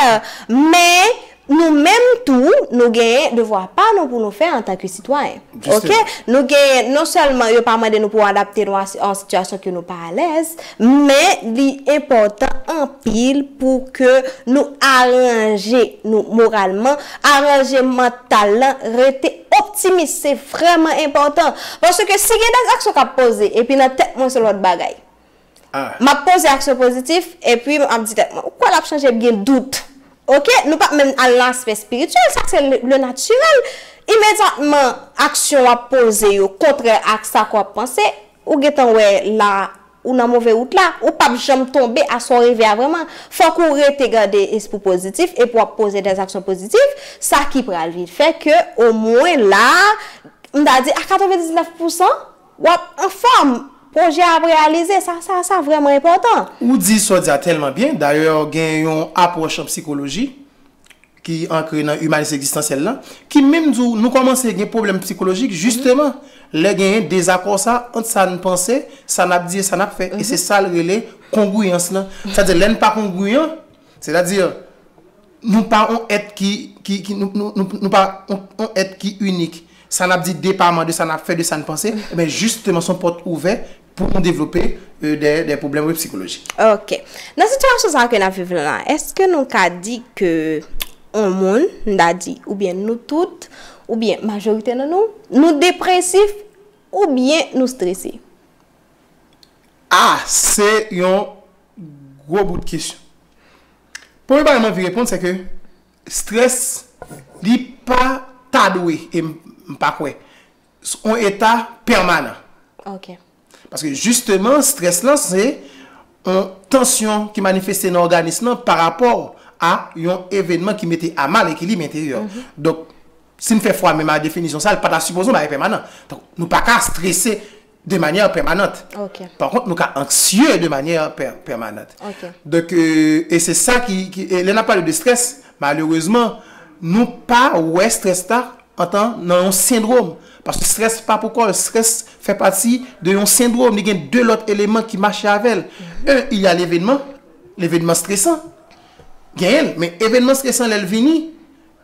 Men, nou menm tou, nou genyen devwa pa nou pou nou fè antanke sitwayen. Ok, nou genyen, non sèlman yo pa mande nou pou adapte nou a yon sitiyasyon ke nou pa alèz, men li enpòtan anpil pou ke nou aranje nou moralman, aranje mantal lan, rete optimis, se vrèman enpòtan. Paske si gen dèzaksyon kap poze, epi nan tèt mwen se lòt bagay. a. M ap poze aksyon pozitif, epi m ap di tèt mwen, ou kwè l ap chanje, byen dout. Ok? Nou pa menm al nan aspè espirityèl, sa se le natirèl. Imedyatman aksyon w ap poze yo kontrè ak sa ke w ap panse, ou gen tan wè la a, ou nan move wout la. Ou pap janm tonbe a sa w reve a vrèman. Fòk ou rete gade espri pozitif, epi w ap poze dè aksyon pozitif, sa ki pral vin fè ke omwen la a, m ta di a 99 pousan, W ap anfòm! Pwojè a ap reyalize! Sa sa sa vrèman enpòtan! Ou di sa w di a tèlman byen, dayè gen yon apwòch an psikoloji ki ankre nan imanis egzistansyèl la, ki menm di w nou kòmanse gen pwoblèm psikolojik jisteman lè genyen dezakò sa ant sa n panse, sa n ap di e sa n ap fè. E se sa l rele kongwiyans lan. Sa di lè n pa kongwiyan, sètadi. Nou pa on èt ki, ki, ki, nou, nou, nou, nou pa on, on èt ki inik. Sa n ap di depaman de sa n ap fè, de sa n panse, enben jisteman s on pòt ouvè pou nou devlope dè, dè pwoblèm, wi, psikolojik. Ok. Nan sitiyasyon sa a ke n ap viv la, èske nou ka di ke on moun, m ta di, oubyen nou tout, oubyen majorite nan nou, nou depresif oubyen nou strese? A! Se yon gwo bout kesyon. Premye bagay m anvi reponn se ke stress li pa ta dwe e m pa kwè on eta pèmanan. Ok. Paske jisteman stress lan se on tansyon ki manifeste nan òganis lan pa rapò a yon evenman ki mete a mal ekilib enteryè w. Donk si m fè fwa menm a definisyon sa l pa ta sipoze on bagay pèmanan. Donk nou pa ka strese de manyè pèmanant. Pa kont nou ka anksye de manyè pèmanant. Donk, e se sa ki, e lè n ap pale de strès, malerezman, nou pa wè strès la antan nan yon sendrom. Paske strès pa pou kò l, strès fè pati de yon sendrom. Li gen de lòt eleman ki mache avè l. E, il y a levenman, levenman stresan. Genyen l. Men, evenman stresan lè l vini,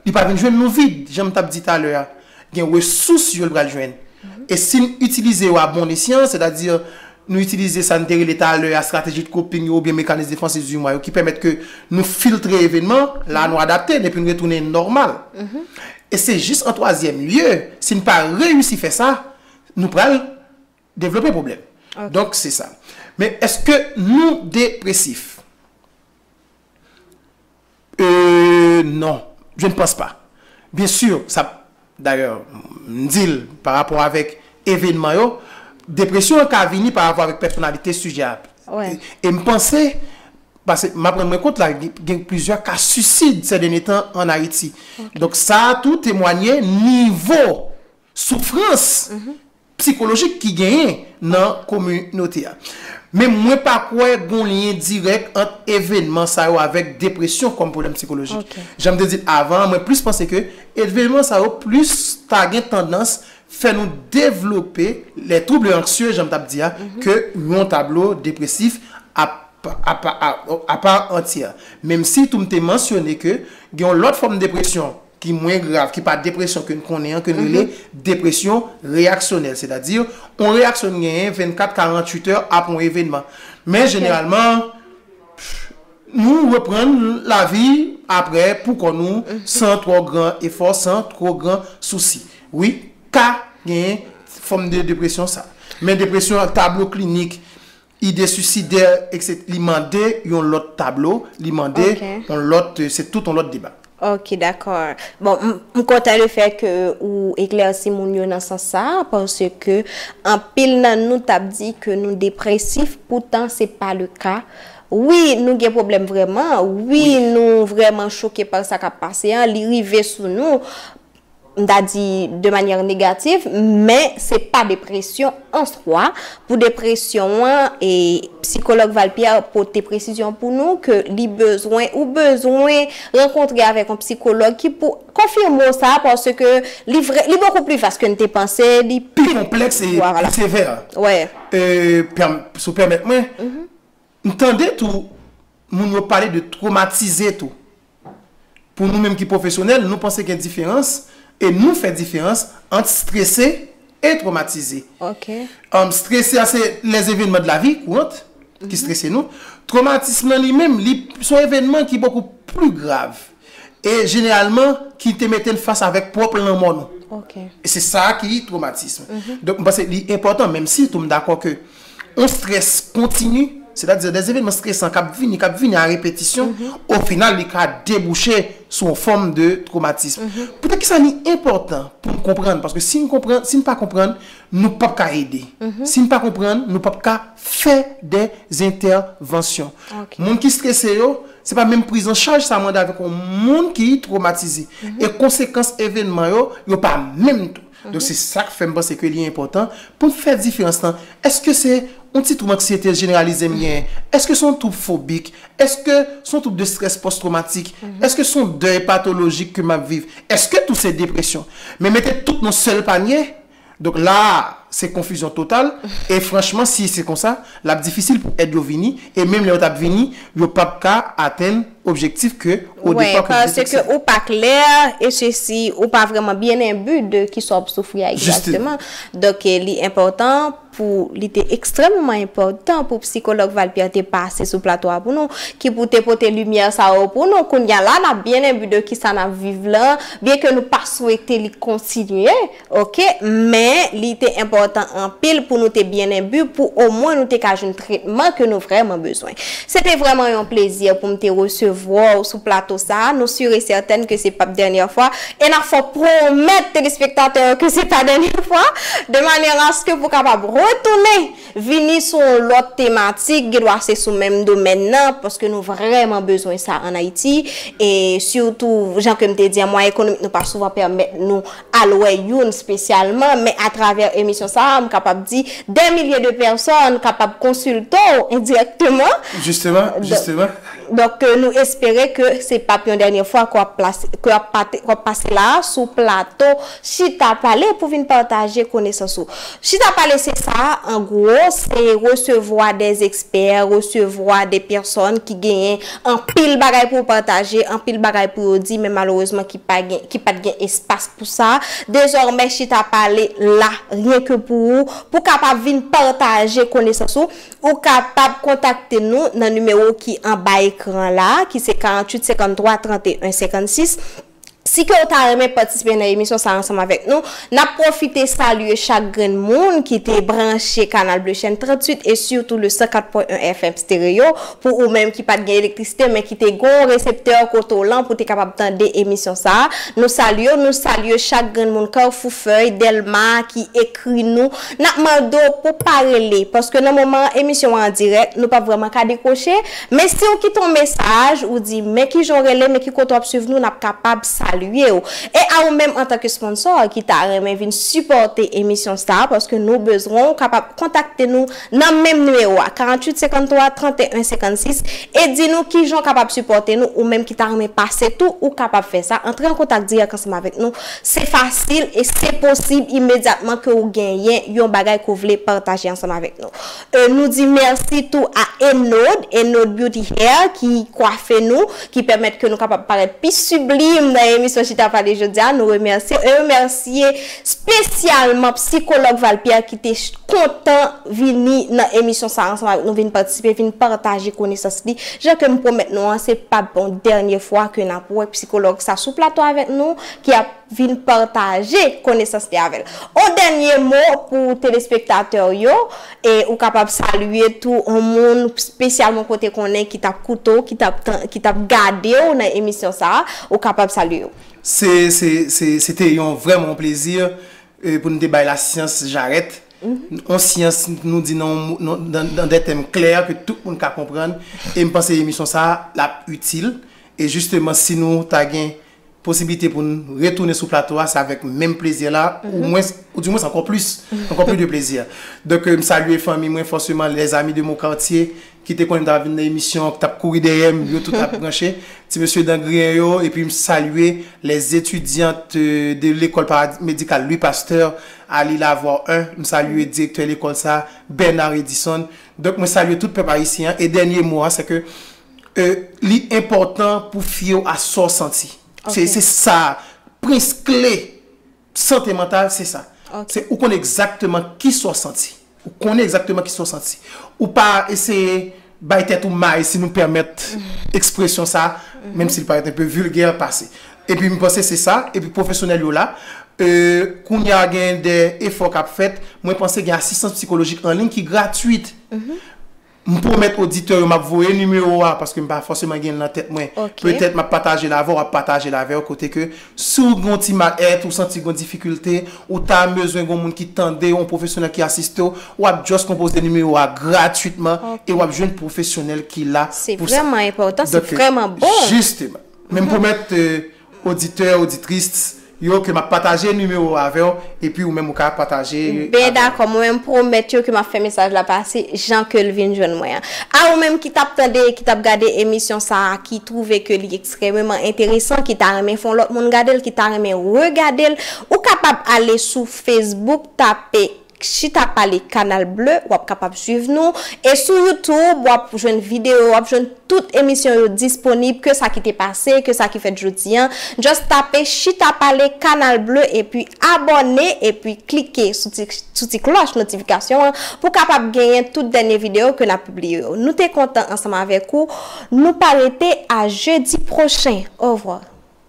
Li pa vin jwenn nou vid, jan m t ap di talè a. Gen resous yo l pral jwenn. E si n itilize yo a bon esyan, sètadi nou itilize sa n te rele talè a strateji de coping yo oubyen mekanis defansif di mwa yo ki pèmèt ke nou filtre evenman, la a nou adapte n epi n retounen nòmal. E se jis an twazyèm lye, si n pa reyisi fè sa, nou pral devlope pwoblèm. Donk se sa. Men èske nou depresif? Euh non je ne pense pas bien sûr sa d'ailleurs m di l par rapport avèk evenman yo depresyon an ka vini par rapport avèk pèsonalite sijè a e m panse pase m ap rann mwen kont la gen plizyè ka suicide sè dènye tan an Ayiti donk sa tou temwanye nivo soufrans psikolojik ki genyen nan kominote a. Men mwen pa kwè gon lyen dirèk ant evenman sa yo avèk depresyon kòm pwoblèm psikolojik. Jan m te di l avan an, mwen plis panse ke evenman sa yo plis ta gen tandans fè nou devlope les troubles anxieux jan m t ap di a ke yon tablo depresif a part entière. Menmsi tou m te mansyone ke gen yon lòt fòm depresyon ki mwen grav, ki pa depresyon ke n konnen an, ke n rele depresyon reyaksyonèl, sètadi, yon reyaksyon n genyen 24, 48 è apre yon evenman. Men jeneralman, nou reprann lavi apre pou kò nou, san twò gran efò, san twò gran sousi. Wi, ka genyen fòm de depresyon sa. Men depresyon ak tablo klinik, Ide suicidaire etc li mande yon lòt tablo, li mande yon lòt, se tout yon lòt deba. Ok d'accord. Bon, m kontan le fait que ou eclairci moun yo nan sans sa a parce que anpil nan nou t ap di que nou depressif pourtant se pa le cas. Oui nou gen problème vraiment, oui nou vraiment choqué par sa k ap pase an, li rive sou nou m ta di de manyè negativ, men se pa depresyon an swa, pou depresyon an e psikològ Valpierre pote presizyon pou nou ke li bezwen ou bezwen rankontre avèk yon psikològ ki pou konfime w sa paske li vre li bokou pli vas ke n te panse li pi konplèks e pi sevè si w pèmèt mwen. M tande tou moun yo pale de twomatize tou. Pou nou menm ki pwofesyonèl, nou panse gen diferans e nou fè diferans ant strese e twomatize. Strese a se les evenman de la vi kourant ki strese nou. Twomatism lan li menm, li son evenman ki bokou pli grav. E jeneralman ki te mete n fas avèk pwòp lanmò nou. E se sa ki twomatism. Donk m panse li enpòtan, menm si tou m dakò ke yon strès kontini, sètadi de evenman stresan k ap vini, k ap vini a repetisyon, o final li ka debouche sou yon fòm de twomatism. Poutèkisa li enpòtan pou n konprann? Paske si n konprann, si n pa konprann, nou p ap ka ede. Si n pa konprann, nou p ap ka fè de zentèvansyon. Moun ki strese yo. Se pa menm priz an chaj sa mande avèk yon moun ki twomatize. E konsekans evènman yo, yo pa menm tou. Donk se sa k fè m panse ke li enpòtan pou n fè diferans lan. Èske se yon ti twoub anksyete jeneralize m genyen? Èske se yon twoub fobik? Èske se yon twoub de strès pòstwomatik? Èske se yon dèy patolojik ke m ap viv? Èske tou se depresyon? Men mete tout nan yon sèl panye, Donk la a, se konfizyon total, e franchman si se konsa, l ap difisil pou èd yo vini, e menm lè yo t ap vini, yo p ap ka atenn objektif ke odepa pou detekse. Wè, paske ou pa klè, e sesi, ou pa vrèman byen enbu de ki sa w ap soufri a egzakteman. Donk li enpòtan pou, li te ekstrèmeman enpòtan pou psikològ Valpierre te pase sou plato a pou nou, ki pou te pote limyè sa yo pou nou. Kounye a la, n ap byen enbu de ki sa n ap viv lan, byen ke nou pa swete li kontinye. Ok, men li te enpòtan anpil pou nou te byen enbi pou omwen nou te ka jwenn tretman ke nou vrèman bezwen. Se te vrèman yon plezi pou m te resevwa w sou plato sa a, nou sur e sètèn ke se pap dènyè fwa, e n ap fè w pwomèt telespektatè yo ke se pa dènyè fwa, de manyè aske pou kapab retounen! Vini sou yon lòt tematik, gen dwa se sou menm domèn nan, paske nou vrèman bezwen sa an Ayiti, e sitou, jan ke m te di an, mwayen ekonomik nou pa souvan pèmèt nou al wè youn spesyalman, men atravè emisyon sa a, m kapab di, dè milye de pèsòn kapab konsilte w endirèkteman. Jisteman, jisteman. Donk nou espere ke se pap yon dènye fwa ke wap pase la a sou plato Chita Pale pou vin pataje konesans ou. Chita Pale se sa a an gwo, se resevwa de ekspè, resevwa de pèsòn ki genyen anpil bagay pou pataje, anpil bagay pou yo di men malerezman ki pat gen espas pou sa. Dezòmè Chita Pale la ryen ke pou ou, pou kapab vin pataje konesans ou. Ou kapab kontakte nou nan nimewo ki anba ekran la a, ki se 48 53 31 56. Si ke ou ta renmen patisipe nan emisyon sa a ansanm avèk nou, n ap pwofite salye chak grenn moun ki te branche Canal Bleu Chèn 38 e sitou le 104.1 FM Stereo pou ou menm ki pa t gen elektrisite men ki te gon reseptè kote w lan pou te kapab tande emisyon sa a. Nou salye w, nou salye chak grenn moun Carrefour Feuilles, Delma ki ekri nou Nap mande w pou pa rele paske nan moman emisyon an dirèk nou pap vrèman ka dekwoche, men si w kite yon mesaj ou di men kijan w rele men ki kote wap swiv nou nap kapab salye w. E a ou menm antanke sponsò ki ta renmen vin sipòte emisyon sa paske nou bezwen w kapab kontakte nou nan menm nimewo a 48 53 31 56 e di nou kijan w kapab sipòte nou ou menm ki ta renmen pase tou ou kapab fè sa antre an kontak dirèk ansanm avèk nou Se fasil e se posib imedyatman ke ou genyen yon bagay ke ou vle pataje ansanm avèk nou. E nou di mèsi tou a Enod, Enod Beauty Hair, ki kwafe nou, ki pèmèt ke nou kapab parèt pi sublime nan emisyon Chita Pale jodi a. Nou remèsye e remèsye spesyalman Psikològ Val Pierre ki te kontan vini nan emisyon sa ansanm avèk nou, vin patisipe, vin pataje konesans li. Jan ke m pwomèt nou an, se pap yon dènye fwa ke n ap wè psikològ sa sou plato avèk nou. ki ap vin pataje konesans li avèl. On dènye mo pou telespektatè w yo, e ou kapab salye tou on moun spesyalman ke w te konnen ki tap koute w, ki tap gade w nan emisyon sa a, ou kapab salye yo. Se, se, se, se te yon vrèman yon plezi pou nou te bay lasyans jarèt, on syans nou di nan nan dè tèm klè ke tout moun ka konprann, e m panse emisyon sa a lap itil, e jisteman si nou ta gen Posibilite pou n retounen sou plato a se avèk menm plezi la ou mwens, ou di mwens ankò plis, ankò plis de plezi. Donk m salye fanmi mwen fòseman, les amis de mon quartier ki te konnen m t ap vin nan emisyon an, ki t ap kouri dèyè m, yo tout ap branche, ti mesye dan griyen yo, epi m salye les étudiantes de l'école paramédicale Louis Pasteur à Lilavois 1, m salye direktè lekòl sa a Bernard Edison. Donk mwen salye tout pèp ayisyen an e dènye mo a se ke. Li enpòtan pou fyew a sa w santi. Se se sa prens kle sante mantal se sa. Se ou konnen egzakteman ki sa w santi. Ou konnen egzakteman ki sa w santi. Ou pa eseye bay tèt ou may si nou pèmèt ekspresyon sa menm si l parèt enpe vilgè pase. E pi m panse se sa e pi pwofesyonèl yo la. Kounye a gen de efò k ap fèt. Mwen panse gen asistans psikolojik anliy ki gratwit. M pwomèt oditè yo m ap voye nimewo a paske m pa fòseman gen l nan tèt mwen. Petèt m ap pataje l avè w, ap pataje l avè w kote ke si w gen yon ti mal èt, ou santi gen yon difikilte, ou ta bezwen gen yon moun ki tande w, yon pwofesyonèl ki asiste w, w ap just konpoze nimewo a gratwitman e w ap jwenn pwofesyonèl ki la pou sa. Se vrèman enpòtan, se vrèman bon! Jisteman. Men m pwomèt Oditè, oditrices, yo ke map pataje nimewo avèw epi ou menm ou ka pataje avèl. Ben dakò, mwen menm pwomèt yo ke map fè mesaj la pase jan kel vin jwenn mwen an. A ou menm ki tap tande e ki tap gade emisyon sa a ki twouve ke li ekstrèmeman enteresan, ki ta renmen fè yon lòt moun gadel, ki ta renmen regadel, ou kapab ale sou Facebook tape Chita pale canal bleu wap kapab swiv nou e sou youtube wap jwenn video wap jwenn tout emisyon yo disponib ke sa ki te pase ke sa ki fèt jodi an just tape chita pale canal bleu epi abòne epi klike sou ti sou ti klòch notifikasyon an pou kapab genyen tout dènye video ke nap pibliye yo nou te kontan ansanm avèk ou nou pa rete a jedi pwochen au revoir.